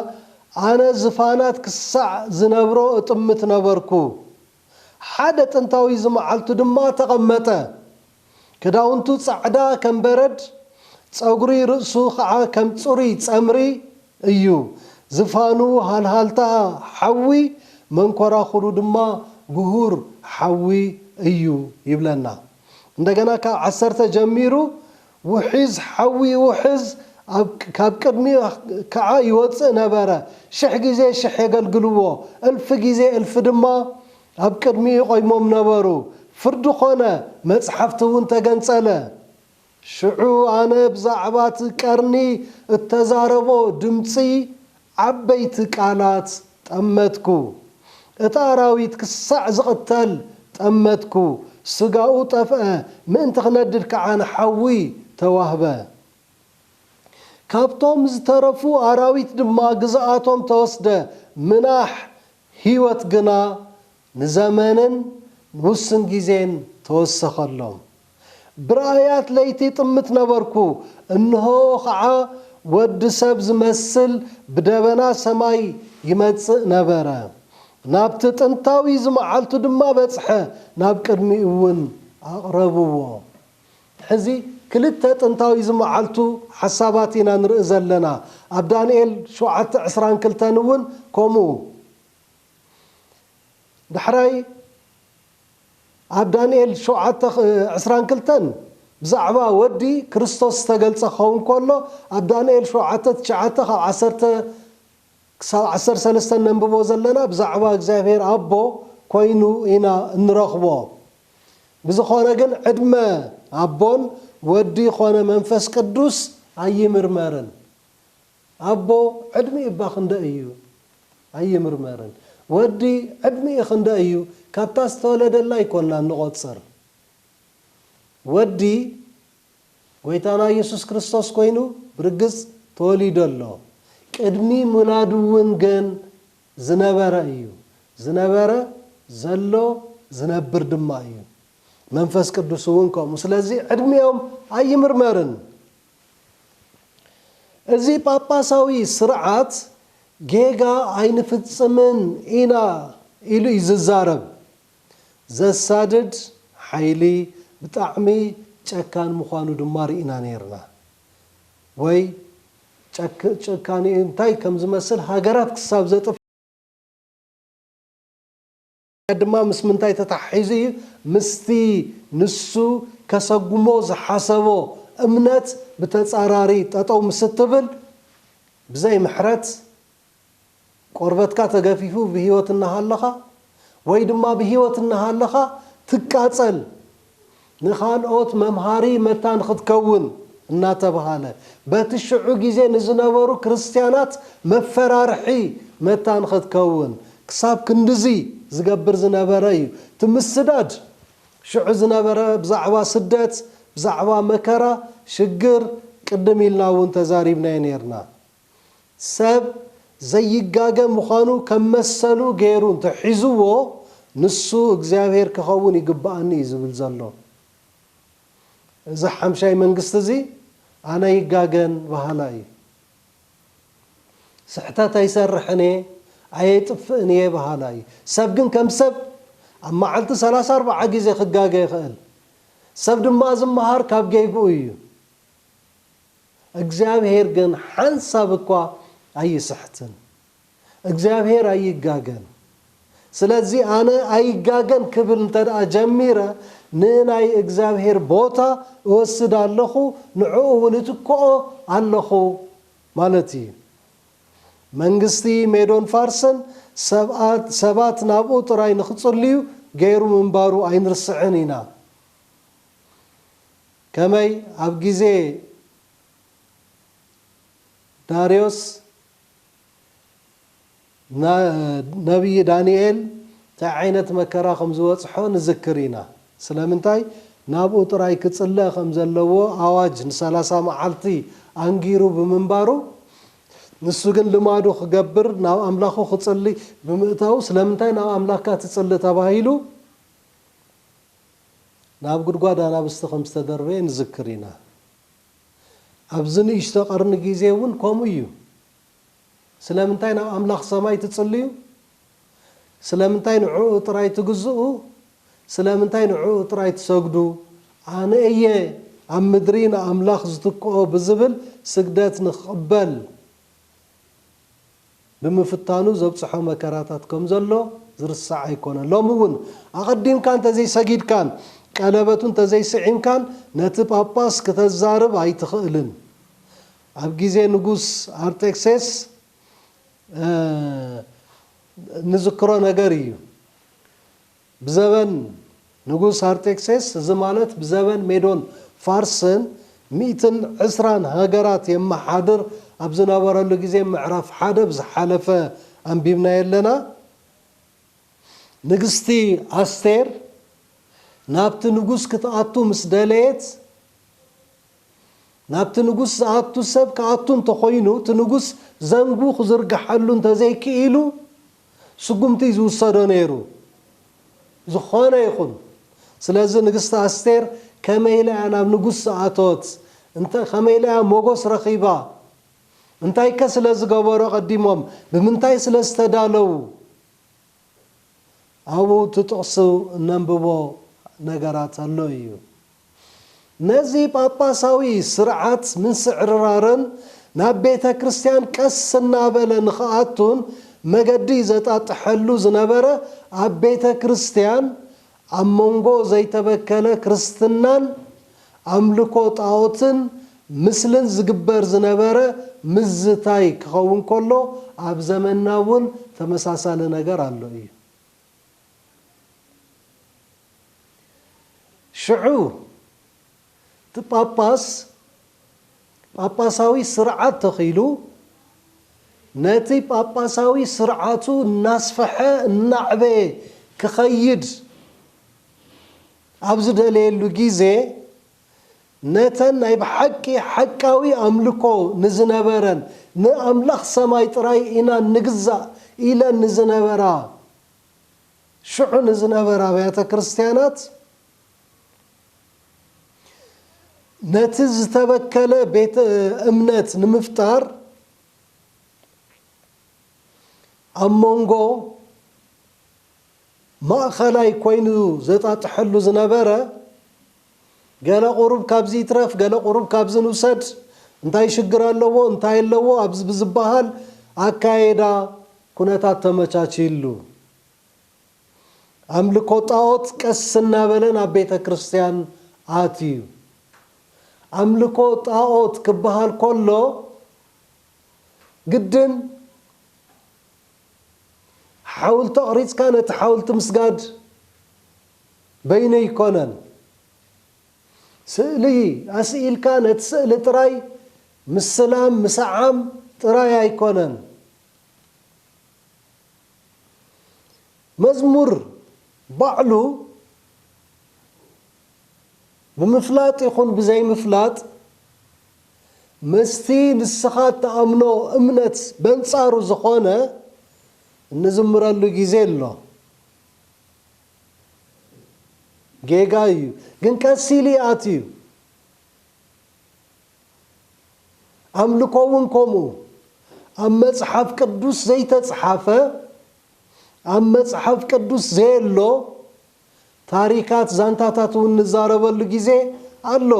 ኣነ ዝፋናት ክሳዕ ዝነብሮ እጥምት ነበርኩ። ሓደ ጥንታዊ ዝመዓልቱ ድማ ተቐመጠ። ክዳውንቱ ጻዕዳ ከም በረድ፣ ጸጉሪ ርእሱ ኸኣ ከም ጽሩይ ጸምሪ እዩ፣ ዝፋኑ ሃልሃልታ ሓዊ፣ መንኰራዅሩ ድማ ግሁር ሓዊ እዩ ይብለና። እንደገና ካብ ዓሰርተ ጀሚሩ ውሒዝ ሓዊ ይውሕዝ፣ ካብ ቅድሚኡ ከኣ ይወጽእ ነበረ። ሽሕ ጊዜ ሽሕ የገልግልዎ፣ እልፊ ጊዜ እልፊ ድማ ኣብ ቅድሚኡ ይቆይሞም ነበሩ። ፍርዲ ኮነ፣ መጽሓፍቲ እውን ተገንጸለ። ሽዑ ኣነ ብዛዕባ እቲ ቀርኒ እተዛረቦ ድምጺ ዓበይቲ ቃላት ጠመትኩ። እቲ ኣራዊት ክሳዕ ዝቕተል ጠመትኩ፣ ስጋኡ ጠፍአ፣ ምእንቲ ክነድድ ከዓ ንሓዊ ተዋህበ። ካብቶም ዝተረፉ ኣራዊት ድማ ግዝኣቶም ተወስደ፣ ምናሕ ህይወት ግና ንዘመንን ንውስን ጊዜን ተወሰኸሎም። ብራእያት ለይቲ እጥምት ነበርኩ፣ እንሆ ኸዓ ወዲ ሰብ ዚመስል ብደበና ሰማይ ይመጽእ ነበረ። ናብቲ ጥንታዊ ዝመዓልቱ ድማ በጽሐ፣ ናብ ቅድሚኡውን ኣቕረብዎ። ሕዚ ክልተ ጥንታዊ ዝመዓልቱ ሓሳባት ኢና ንርኢ ዘለና፣ ኣብ ዳንኤል ሸውዓተ ዕስራን ክልተን እውን ከምኡ። ዳሕራይ ኣብ ዳንኤል ሸውዓተ ዕስራን ክልተን ብዛዕባ ወዲ ክርስቶስ ዝተገልጸ ክኸውን ከሎ ኣብ ዳንኤል ሸውዓተ ትሽዓተ ካብ ዓሰርተ ክሳብ ዓሰርተ ሰለስተ ነንብቦ ዘለና ብዛዕባ እግዚኣብሔር ኣቦ ኮይኑ ኢና እንረኽቦ ብዝኾነ ግን ዕድመ ኣቦን ወዲ ኮነ መንፈስ ቅዱስ ኣይምርመርን ኣቦ ዕድሚኡ እባ ክንደይ እዩ ኣይምርመርን ወዲ ዕድሚኡ ክንደይ እዩ ካብታ ዝተወለደላ ኣይኮናን ንቆጽር ወዲ ጎይታና የሱስ ክርስቶስ ኮይኑ ብርግጽ ተወሊዱ ኣሎ ቅድሚ ሙላዱ ውን ግን ዝነበረ እዩ ዝነበረ ዘሎ ዝነብር ድማ እዩ መንፈስ ቅዱስ ውን ከምኡ ስለዚ ዕድሚኦም ኣይምርመርን እዚ ጳጳሳዊ ስርዓት ጌጋ ኣይንፍጽምን ኢና ኢሉ እዩ ዝዛረብ። ዘሳድድ ሓይሊ ብጣዕሚ ጨካን ምዃኑ ድማ ርኢና ነይርና። ወይ ጭካኔኡ እንታይ ከም ዝመስል ሃገራት ክሳብ ዘጥፍእ። ድማ ምስ ምንታይ ተተሓሒዙ እዩ? ምስቲ ንሱ ከሰጉሞ ዝሓሰቦ እምነት ብተጻራሪ ጠጠው ምስ እትብል፣ ብዘይ ምሕረት ቆርበትካ ተገፊፉ ብህይወት እናሃለኻ ወይ ድማ ብህይወት እናሃለኻ ትቃጸል። ንኻልኦት መምሃሪ መታን ኽትከውን እናተብሃለ በቲ ሽዑ ግዜ ንዝነበሩ ክርስትያናት መፈራርሒ መታን ኽትከውን ክሳብ ክንድዚ ዝገብር ዝነበረ እዩ። እቲ ምስዳድ ሽዑ ዝነበረ ብዛዕባ ስደት፣ ብዛዕባ መከራ፣ ሽግር ቅድም ኢልና እውን ተዛሪብናዮ ነይርና። ሰብ ዘይጋገ ምዃኑ ከም መሰሉ ገይሩ እንተ ሒዝዎ ንሱ እግዚኣብሄር ክኸውን ይግብኣኒ እዩ ዝብል ዘሎ። እዚ ሓምሻይ መንግስቲ እዚ ኣነ ኣይጋገን በሃላይ እዩ። ስሕተት ኣይሰርሕን እየ፣ ኣየጥፍእን እየ በሃላይ እዩ። ሰብ ግን ከም ሰብ ኣብ መዓልቲ ሰላሳ ኣርብዓ ግዜ ክጋገ ይኽእል። ሰብ ድማ ዝመሃር ካብ ጌግኡ እዩ። እግዚኣብሄር ግን ሓንሳብ እኳ ኣይስሕትን። እግዚኣብሄር ኣይጋገን። ስለዚ ኣነ ኣይጋገን ክብል እንተድኣ ጀሚረ ንናይ እግዚኣብሄር ቦታ እወስድ ኣለኹ፣ ንዕኡ እውን እትክኦ ኣለኹ ማለት እዩ። መንግስቲ ሜዶን ፋርስን ሰባት ናብኡ ጥራይ ንኽጽልዩ ገይሩ ምንባሩ ኣይንርስዕን ኢና። ከመይ ኣብ ግዜ ዳርዮስ ነብዪ ዳንኤል ታይ ዓይነት መከራ ከም ዝበጽሖ ንዝክር ኢና። ስለምንታይ ናብኡ ጥራይ ክጽለ ከም ዘለዎ ኣዋጅ ንሰላሳ መዓልቲ ኣንጊሩ ብምንባሩ ንሱ ግን ልማዱ ክገብር ናብ ኣምላኹ ክጽሊ ብምእታዉ ስለምንታይ ናብ ኣምላካ ትጽሊ ተባሂሉ ናብ ጉድጓድ ኣናብስቲ ከም ዝተደርበየ ንዝክር ኢና። ኣብዚ ንእሽቶ ቀርኒ ግዜ እውን ከምኡ ኢዩ። ስለምንታይ ናብ ኣምላኽ ሰማይ ትጽልዩ? ስለምንታይ ንዕኡ ጥራይ ትግዝኡ? ስለምንታይ ንዕኡ ጥራይ ትሰግዱ? ኣነ ኢየ ኣብ ምድሪ ንኣምላኽ ዝትክኦ ብዝብል ስግደት ንኽቕበል። ብምፍታኑ ዘብጽሖ መከራታት ከም ዘሎ ዝርሳዕ ኣይኮነን። ሎሚ እውን ኣቐዲምካ እንተ ዘይሰጊድካን ቀለበቱ እንተ ዘይስዒምካን ነቲ ጳጳስ ክተዛርብ ኣይትኽእልን። ኣብ ግዜ ንጉስ ኣርጤክሴስ እንዝክሮ ነገር ኢዩ። ብዘበን ንጉስ ኣርጤክሴስ፣ እዚ ማለት ብዘበን ሜዶን ፋርስን፣ ሚእትን ዕስራን ሃገራት የመሓድር ኣብ ዝነበረሉ ግዜ ምዕራፍ ሓደ ብዝሓለፈ ኣንቢብናዮ ኣለና። ንግስቲ ኣስቴር ናብቲ ንጉስ ክትኣቱ ምስ ደለየት፣ ናብቲ ንጉስ ዝኣቱ ሰብ ክኣቱ እንተኾይኑ እቲ ንጉስ ዘንጉ ክዝርግሓሉ እንተዘይክኢሉ፣ ስጉምቲ ዝውሰዶ ነይሩ ዝኾነ ይኹን ስለዚ ንግስቲ ኣስቴር ከመይ ኢላ እያ ናብ ንጉስ ዝኣተወት እንተ ከመይ ኢላ እያ ሞጎስ ረኺባ እንታይከ ስለ ዝገበሩ ኣቐዲሞም ብምንታይ ስለ ዝተዳለዉ ኣብኡ እቲ ጥቕሱ እነንብቦ ነገራት ኣሎ እዩ። ነዚ ጳጳሳዊ ስርዓት ምንስዕርራርን ናብ ቤተ ክርስቲያን ቀስ እናበለ ንኽኣቱን መገዲ ዘጣጥሐሉ ዝነበረ ኣብ ቤተ ክርስቲያን ኣብ መንጎ ዘይተበከለ ክርስትናን ኣምልኮ ጣኦትን ምስልን ዝግበር ዝነበረ ምዝታይ ክኸውን ከሎ ኣብ ዘመንና እውን ተመሳሳሊ ነገር ኣሎ እዩ። ሽዑ እቲ ጳጳስ ጳጳሳዊ ስርዓት ተኺሉ ነቲ ጳጳሳዊ ስርዓቱ እናስፈሐ እናዕበየ ክኸይድ ኣብ ዝደለየሉ ጊዜ፣ ነተን ናይ ብሓቂ ሓቃዊ ኣምልኮ ንዝነበረን ንኣምላኽ ሰማይ ጥራይ ኢና ንግዛእ ኢለን ንዝነበራ ሽዑ ንዝነበራ ኣብያተ ክርስትያናት ነቲ ዝተበከለ ቤተ እምነት ንምፍጣር ኣብ መንጎ ማእኸላይ ኮይኑ ዘጣጥሐሉ ዝነበረ ገለ ቁሩብ ካብዚ ይትረፍ ገለ ቁሩብ ካብዚ ንውሰድ እንታይ ሽግር ኣለዎ እንታይ ኣለዎ ኣብዚ ብዝበሃል ኣካይዳ ኩነታት ተመቻችይሉ ኣምልኮ ጣኦት ቀስ እናበለ ናብ ቤተ ክርስትያን ኣትዩ ኣምልኮ ጣኦት ክበሃል ከሎ ግድን ሓውልቲ ኣቕሪጽካ ነቲ ሓውልቲ ምስጋድ በይኑ ኣይኮነን ስእሊ ኣስኢልካ ነቲ ስእሊ ጥራይ ምስላም ምስዓም ጥራይ ኣይኮነን መዝሙር ባዕሉ ብምፍላጥ ይኹን ብዘይምፍላጥ ምስቲ ንስኻ እትኣምኖ እምነት በንጻሩ ዝኾነ እንዝምረሉ ግዜ ኣሎ። ጌጋ እዩ ግን ቀስ ኢሉ ይኣትዩ ኣምልኮ ውን ከምኡ ኣብ መጽሓፍ ቅዱስ ዘይተጽሓፈ ኣብ መጽሓፍ ቅዱስ ዘየሎ ታሪካት ዛንታታት ውን ንዛረበሉ ግዜ ኣሎ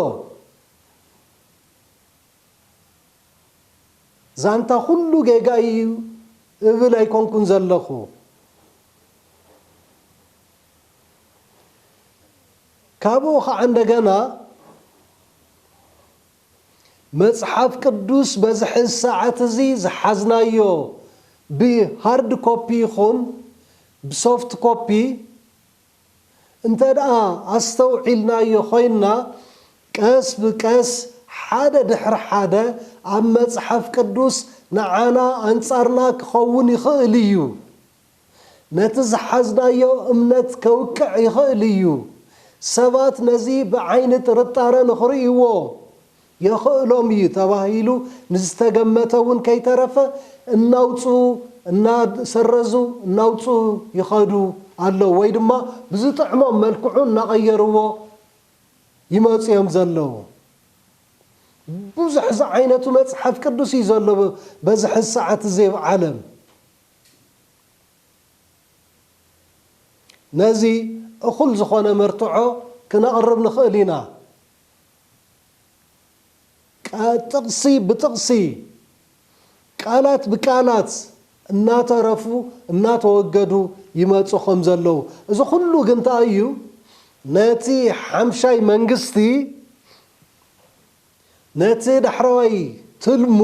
ዛንታ ኩሉ ጌጋይ ኢዩ እብል ኣይኮንኩን ዘለኹ። ካብኡ ኸኣ እንደገና መጽሓፍ ቅዱስ በዚ ሕዚ ሰዓት እዚ ዝሓዝናዮ ብሃርድ ኮፒ ይኹን ብሶፍት ኮፒ እንተድኣ ኣስተውዒልናዮ ዀይንና፣ ቀስ ብቀስ ሓደ ድሕሪ ሓደ ኣብ መጽሓፍ ቅዱስ ንዓና ኣንጻርና ኪኸውን ይኽእል እዩ። ነቲ ዝሓዝናዮ እምነት ከውቅዕ ይኽእል እዩ። ሰባት ነዚ ብዓይኒ ጥርጣረ ንኽርእይዎ የኽእሎም እዩ ተባሂሉ ንዝተገመተ እውን ከይተረፈ እናውፅኡ፣ እናሰረዙ፣ እናውፅኡ ይኸዱ ኣለዉ ወይ ድማ ብዝጥዕሞም መልክዑ እናቐየርዎ ይመፁ እዮም ዘለዉ። ብዙሕ ዝዓይነቱ መፅሓፍ ቅዱስ እዩ ዘሎ በዚ ሕዚ ሰዓት እዚ ኣብ ዓለም። ነዚ እኹል ዝኾነ መርትዖ ክነቕርብ ንኽእል ኢና። ቃል ጥቕሲ ብጥቕሲ፣ ቃላት ብቃላት እናተረፉ እናተወገዱ ይመጹ ከም ዘለዉ፣ እዚ ኩሉ ግን እንታይ እዩ ነቲ ሓምሻይ መንግስቲ ነቲ ዳሕረዋይ ትልሙ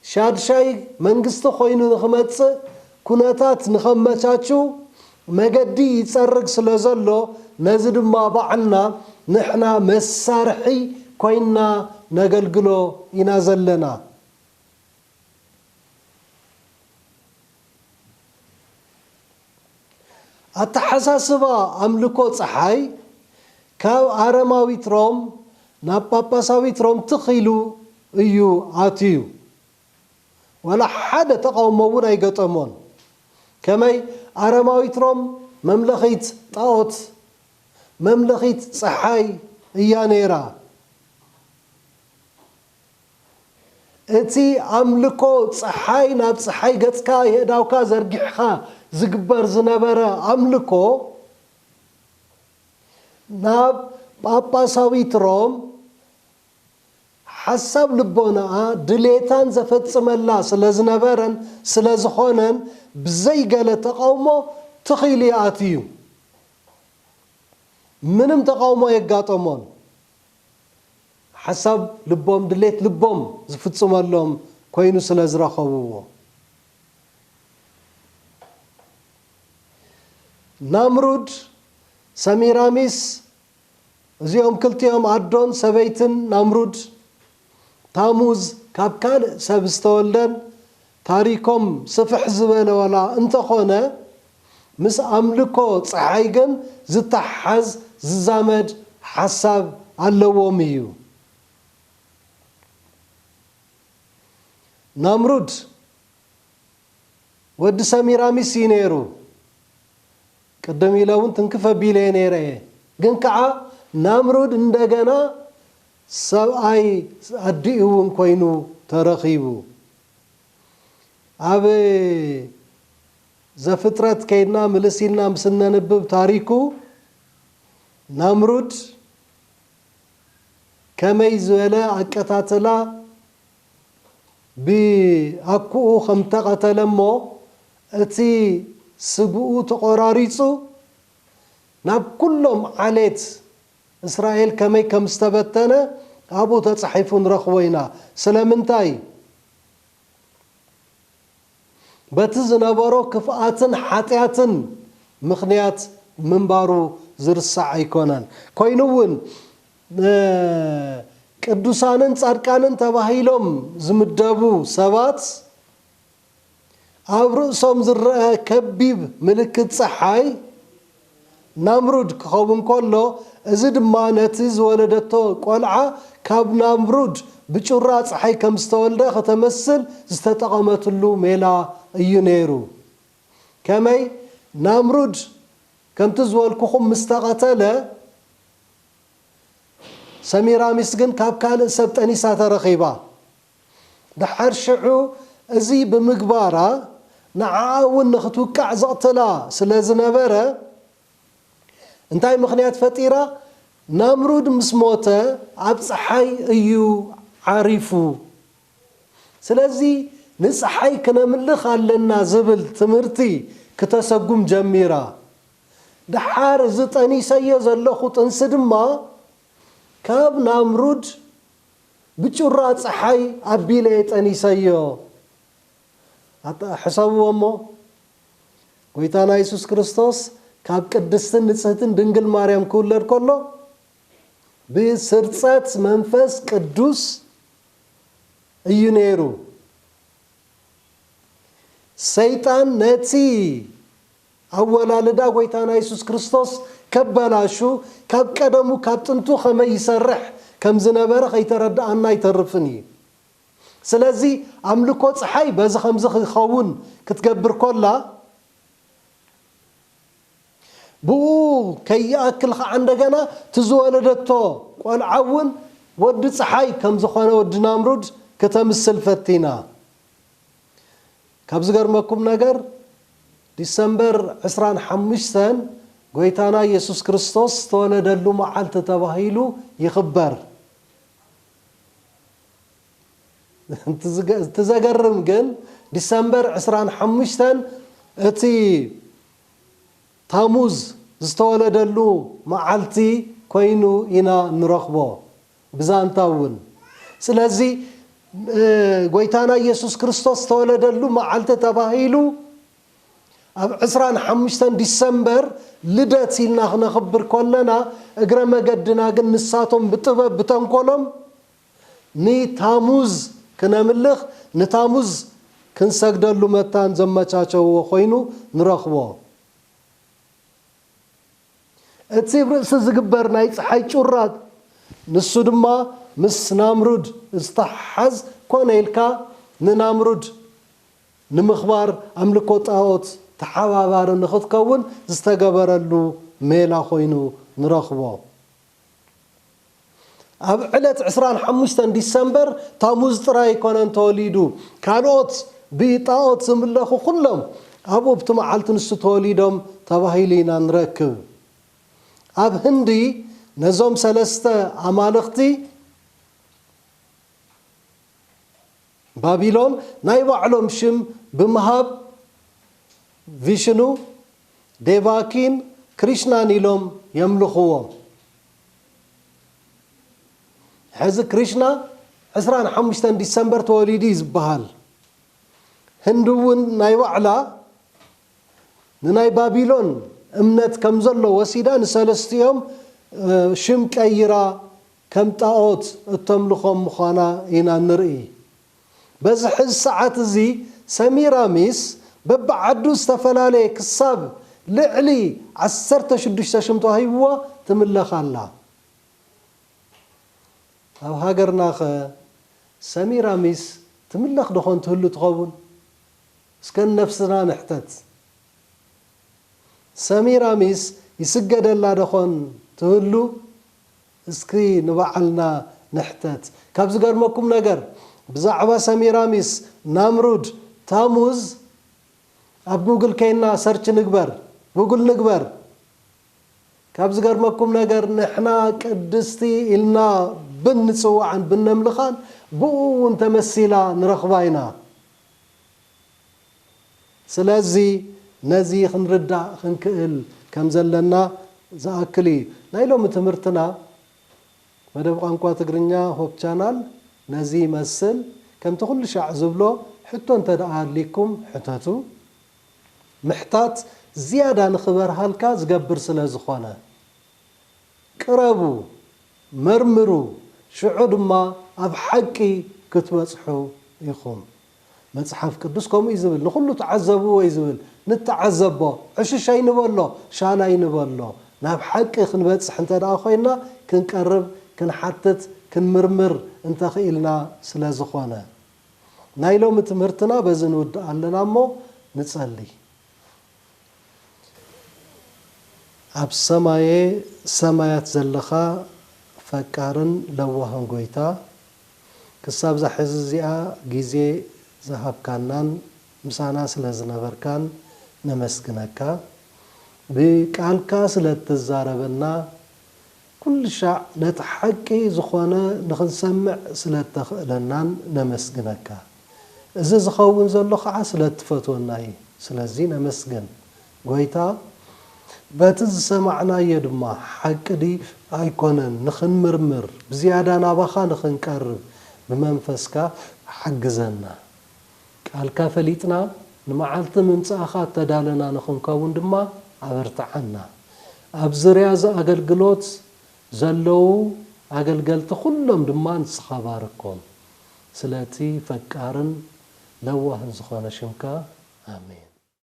ሻድሻይ መንግስቲ ኮይኑ ንክመፅእ ኩነታት ንከመቻችው መገዲ ይፀርግ ስለዘሎ ነዚ ድማ ባዕልና ንሕና መሳርሒ ኮይንና ነገልግሎ ኢና ዘለና። ኣተሓሳስባ ኣምልኮ ጸሓይ ካብ ኣረማዊት ሮም ናብ ጳጳሳዊት ሮም ትኽ ኢሉ እዩ ኣትዩ። ዋላ ሓደ ተቓውሞ እውን ኣይገጠሞን። ከመይ ኣረማዊት ሮም መምለኺት ጣኦት፣ መምለኺት ጸሓይ፣ እያ ነይራ። እቲ ኣምልኮ ጸሓይ ናብ ጸሓይ ገጽካ የእዳውካ ዘርጊሕኻ ዝግበር ዝነበረ ኣምልኮ ናብ ጳጳሳዊት ሮም ሓሳብ ልቦናኣ ድሌታን ዘፈጽመላ ስለ ዝነበረን ስለ ዝኾነን ብዘይ ገለ ተቓውሞ ትኽ ኢሉ ይኣትው እዩ። ምንም ተቓውሞ ኣየጋጠሞን። ሓሳብ ልቦም ድሌት ልቦም ዝፍጽመሎም ኮይኑ ስለ ዝረኸብዎ። ናምሩድ፣ ሰሚራሚስ፣ እዚኦም ክልቲኦም ኣዶን ሰበይትን ናምሩድ፣ ታሙዝ ካብ ካልእ ሰብ ዝተወልደን ታሪኮም ስፍሕ ዝበለ ዋላ እንተኾነ ምስ ኣምልኮ ጸሓይ ግን ዝተሓሓዝ ዝዛመድ ሓሳብ ኣለዎም እዩ። ናምሩድ ወዲ ሰሚራሚስ እዩ ነይሩ። ቅድም ኢለ እውን ትንክፍ ኣቢለየ ነይረ እየ። ግን ከኣ ናምሩድ እንደገና ሰብኣይ ኣዲኡ እውን ኮይኑ ተረኺቡ። ኣብ ዘፍጥረት ከይድና ምልስ ኢልና ምስ እነንብብ ታሪኩ ናምሩድ ከመይ ዝበለ ኣቀታትላ ብኣኩኡ ከም እተቐተለ እሞ እቲ ስግኡ ተቖራሪፁ ናብ ኩሎም ዓሌት እስራኤል ከመይ ከም ዝተበተነ ኣብኡ ተጻሒፉ ንረኽቦ ኢና። ስለምንታይ? በቲ ዝነበሮ ክፍኣትን ሓጢኣትን ምኽንያት ምንባሩ ዝርሳዕ ኣይኮነን። ኮይኑ እውን ቅዱሳንን ጻድቃንን ተባሂሎም ዝምደቡ ሰባት፣ ኣብ ርእሶም ዝረኣ ከቢብ ምልክት ጸሓይ፣ ናምሩድ፣ ክኸውን ከሎ፣ እዚ ድማ ነቲ ዝወለደቶ ቆልዓ ካብ ናምሩድ ብጩራ ጸሓይ ከም ዝተወልደ ከተመስል ዝተጠቐመትሉ ሜላ እዩ ነይሩ። ከመይ፣ ናምሩድ ከምቲ ዝበልኩኹም ምስ ተቐተለ፣ ሰሚራሚስ ግን ካብ ካልእ ሰብ ጠኒሳ ተረኺባ። ደሓር ሽዑ እዚ ብምግባራ ንዓኣ እውን ንኽትውቃዕ ዘቕትላ ስለ ዝነበረ፣ እንታይ ምኽንያት ፈጢራ፣ ናምሩድ ምስ ሞተ ኣብ ጸሓይ እዩ ዓሪፉ፣ ስለዚ ንጸሓይ ክነምልኽ ኣለና ዝብል ትምህርቲ ክተሰጉም ጀሚራ። ደሓር እዚ ጠኒሰዮ ዘለኹ ጥንሲ ድማ ካብ ናምሩድ ብጩራ ጸሓይ ኣቢለ'የ ጠኒሰዮ። ሕሰብዎ'ሞ፣ ጐይታና የሱስ ክርስቶስ ካብ ቅድስትን ንጽህትን ድንግል ማርያም ክውለድ ከሎ፣ ብስርጸት መንፈስ ቅዱስ እዩ ነይሩ። ሰይጣን ነቲ። ኣወላልዳ ጎይታና የሱስ ክርስቶስ ከባላሹ ካብ ቀደሙ ካብ ጥንቱ ከመይ ይሰርሕ ከምዝነበረ ከይተረዳኣና ኣይተርፍን እዩ ስለዚ ኣምልኮ ጽሓይ በዚ ከምዚ ክከውን ክትገብር ኮላ ብኡ ከይኣክል ከኣ እንደገና እቲ ዝወለደቶ ቆልዓ ውን ወዲ ጽሓይ ከምዝኮነ ወዲ ናምሩድ ክተምስል ፈቲና ካብ ዝገርመኩም ነገር ዲሰምበር ዕስራን ሓሙሽተን ጎይታና የሱስ ክርስቶስ ዝተወለደሉ መዓልቲ ተባሂሉ ይኽበር። እቲ ዘገርም ግን ዲሰምበር ዕስራን ሓሙሽተን እቲ ታሙዝ ዝተወለደሉ መዓልቲ ኮይኑ ኢና እንረኽቦ። ብዛንታ እውን ስለዚ ጎይታና ኢየሱስ ክርስቶስ ዝተወለደሉ መዓልቲ ተባሂሉ ኣብ ዕስራን ሓሙሽተን ዲሰምበር ልደት ኢልና ክነኽብር ከለና እግረ መገድና ግን ንሳቶም ብጥበብ ብተንኮሎም ንታሙዝ ክነምልኽ ንታሙዝ ክንሰግደሉ መታን ዘመቻቸውዎ ኮይኑ ንረኽቦ። እቲ ብ ርእሲ ዝግበር ናይ ጸሓይ ጩራ ንሱ ድማ ምስ ናምሩድ ዝተሓሓዝ ኮነ ኢልካ ንናምሩድ ንምኽባር ኣምልኮ ጣኦት ተሓባባሪ ንኽትከውን ዝተገበረሉ ሜላ ኮይኑ ንረኽቦ። ኣብ ዕለት ዕስራን ሓሙሽተን ዲሰምበር ታሙዝ ጥራይ ኣይኮነን ተወሊዱ፣ ካልኦት ብጣኦት ዝምለኹ ኩሎም ኣብ'ቲ መዓልቲ ንሱ ተወሊዶም ተባሂሉ ኢና ንረክብ። ኣብ ህንዲ ነዞም ሰለስተ ኣማልኽቲ። ባቢሎን ናይ ባዕሎም ሽም ብምሃብ ቪሽኑ፣ ዴቫኪን ክሪሽናን ኢሎም የምልኹዎም። ሕዚ ክሪሽና ዕስራን ሓሙሽተን ዲሰምበር ተወሊዱ እዩ ዝበሃል። ህንዲ እውን ናይ ባዕላ ንናይ ባቢሎን እምነት ከምዘሎ ወሲዳ ንሰለስቲኦም ሽም ቀይራ ከም ጣኦት እተምልኾም ምዃና ኢና እንርኢ። በዚ ሕዚ ሰዓት እዚ ሰሚራሚስ በብዓዱ ዝተፈላለየ ክሳብ ልዕሊ ዓሰርተ ሽዱሽተ ሽም ተዋሂብዋ ትምለኽ ኣላ። ኣብ ሃገርናኸ ሰሚራሚስ ትምለኽ ደኾን ትህሉ ትኸውን? እስከ ንነፍስና ንሕተት። ሰሚራሚስ ይስገደላ ደኾን ትህሉ? እስኪ ንባዕልና ንሕተት ካብ ዝገርመኩም ነገር ብዛዕባ ሰሚራሚስ ናምሩድ ታሙዝ ኣብ ጉግል ከይና ሰርች ንግበር ጉግል ንግበር ካብ ዝገርመኩም ነገር ንሕና ቅድስቲ ኢልና ብን ንጽውዓን ብነምልኻን ብኡ ውን ተመሲላ ንረኽባ ኢና። ስለዚ ነዚ ክንርዳእ ክንክእል ከም ዘለና ዝኣክል እዩ። ናይ ሎሚ ትምህርትና መደብ ቋንቋ ትግርኛ ሆፕ ቻናል ነዚ ይመስል። ከምቲ ኩሉ ሻዕ ዝብሎ ሕቶ እንተድኣ ኣልይኩም ሕተቱ። ምሕታት ዝያዳ ንክበርሃልካ ዝገብር ስለ ዝኾነ። ቅረቡ፣ መርምሩ፣ ሽዑ ድማ ኣብ ሓቂ ክትበጽሑ ኢኹም። መጽሓፍ ቅዱስ ከምኡ እዩ ዝብል ንኹሉ ተዓዘብዎ እዩ ዝብል ንተዓዘቦ ዕሽሽ ኣይንበሎ ሻል ኣይንበሎ ናብ ሓቂ ክንበጽሕ እንተ ኮይና ክንቀርብ ክንሓትት ክንምርምር እንተ ኽኢልና ስለ ዝኾነ ናይ ሎሚ ትምህርትና በዚ ንውድእ ኣለና እሞ ንጸሊ። ኣብ ሰማየ ሰማያት ዘለኻ ፈቃርን ለዋህን ጎይታ ክሳብዛ ሕዚ እዚኣ ግዜ ዝሃብካናን ምሳና ስለ ዝነበርካን ነመስግነካ ብቃልካ ስለ እትዛረበና ኩልሻዕ ነቲ ሓቂ ዝኾነ ንኽንሰምዕ ስለእተኽእለናን ነመስግነካ። እዚ ዝኸውን ዘሎ ኸዓ ስለእትፈትወና እዩ። ስለዚ ነመስግን። ጎይታ በቲ ዝሰማዕናዮ ድማ ሓቂ ድዩ ኣይኮነን ንኽንምርምር ብዝያዳ ናባኻ ንኽንቀርብ ብመንፈስካ ሓግዘና። ቃልካ ፈሊጥና ንመዓልቲ ምምጻእኻ እተዳለና ንኽንከውን ድማ ኣበርትዓና። ኣብ ዙርያ እዚ ኣገልግሎት ዘለዉ ኣገልገልቲ ዅሎም ድማ ንስኻ ባርኮም። ስለቲ ፈቃርን ለዋህን ዝዀነ ሽምካ፣ ኣሜን።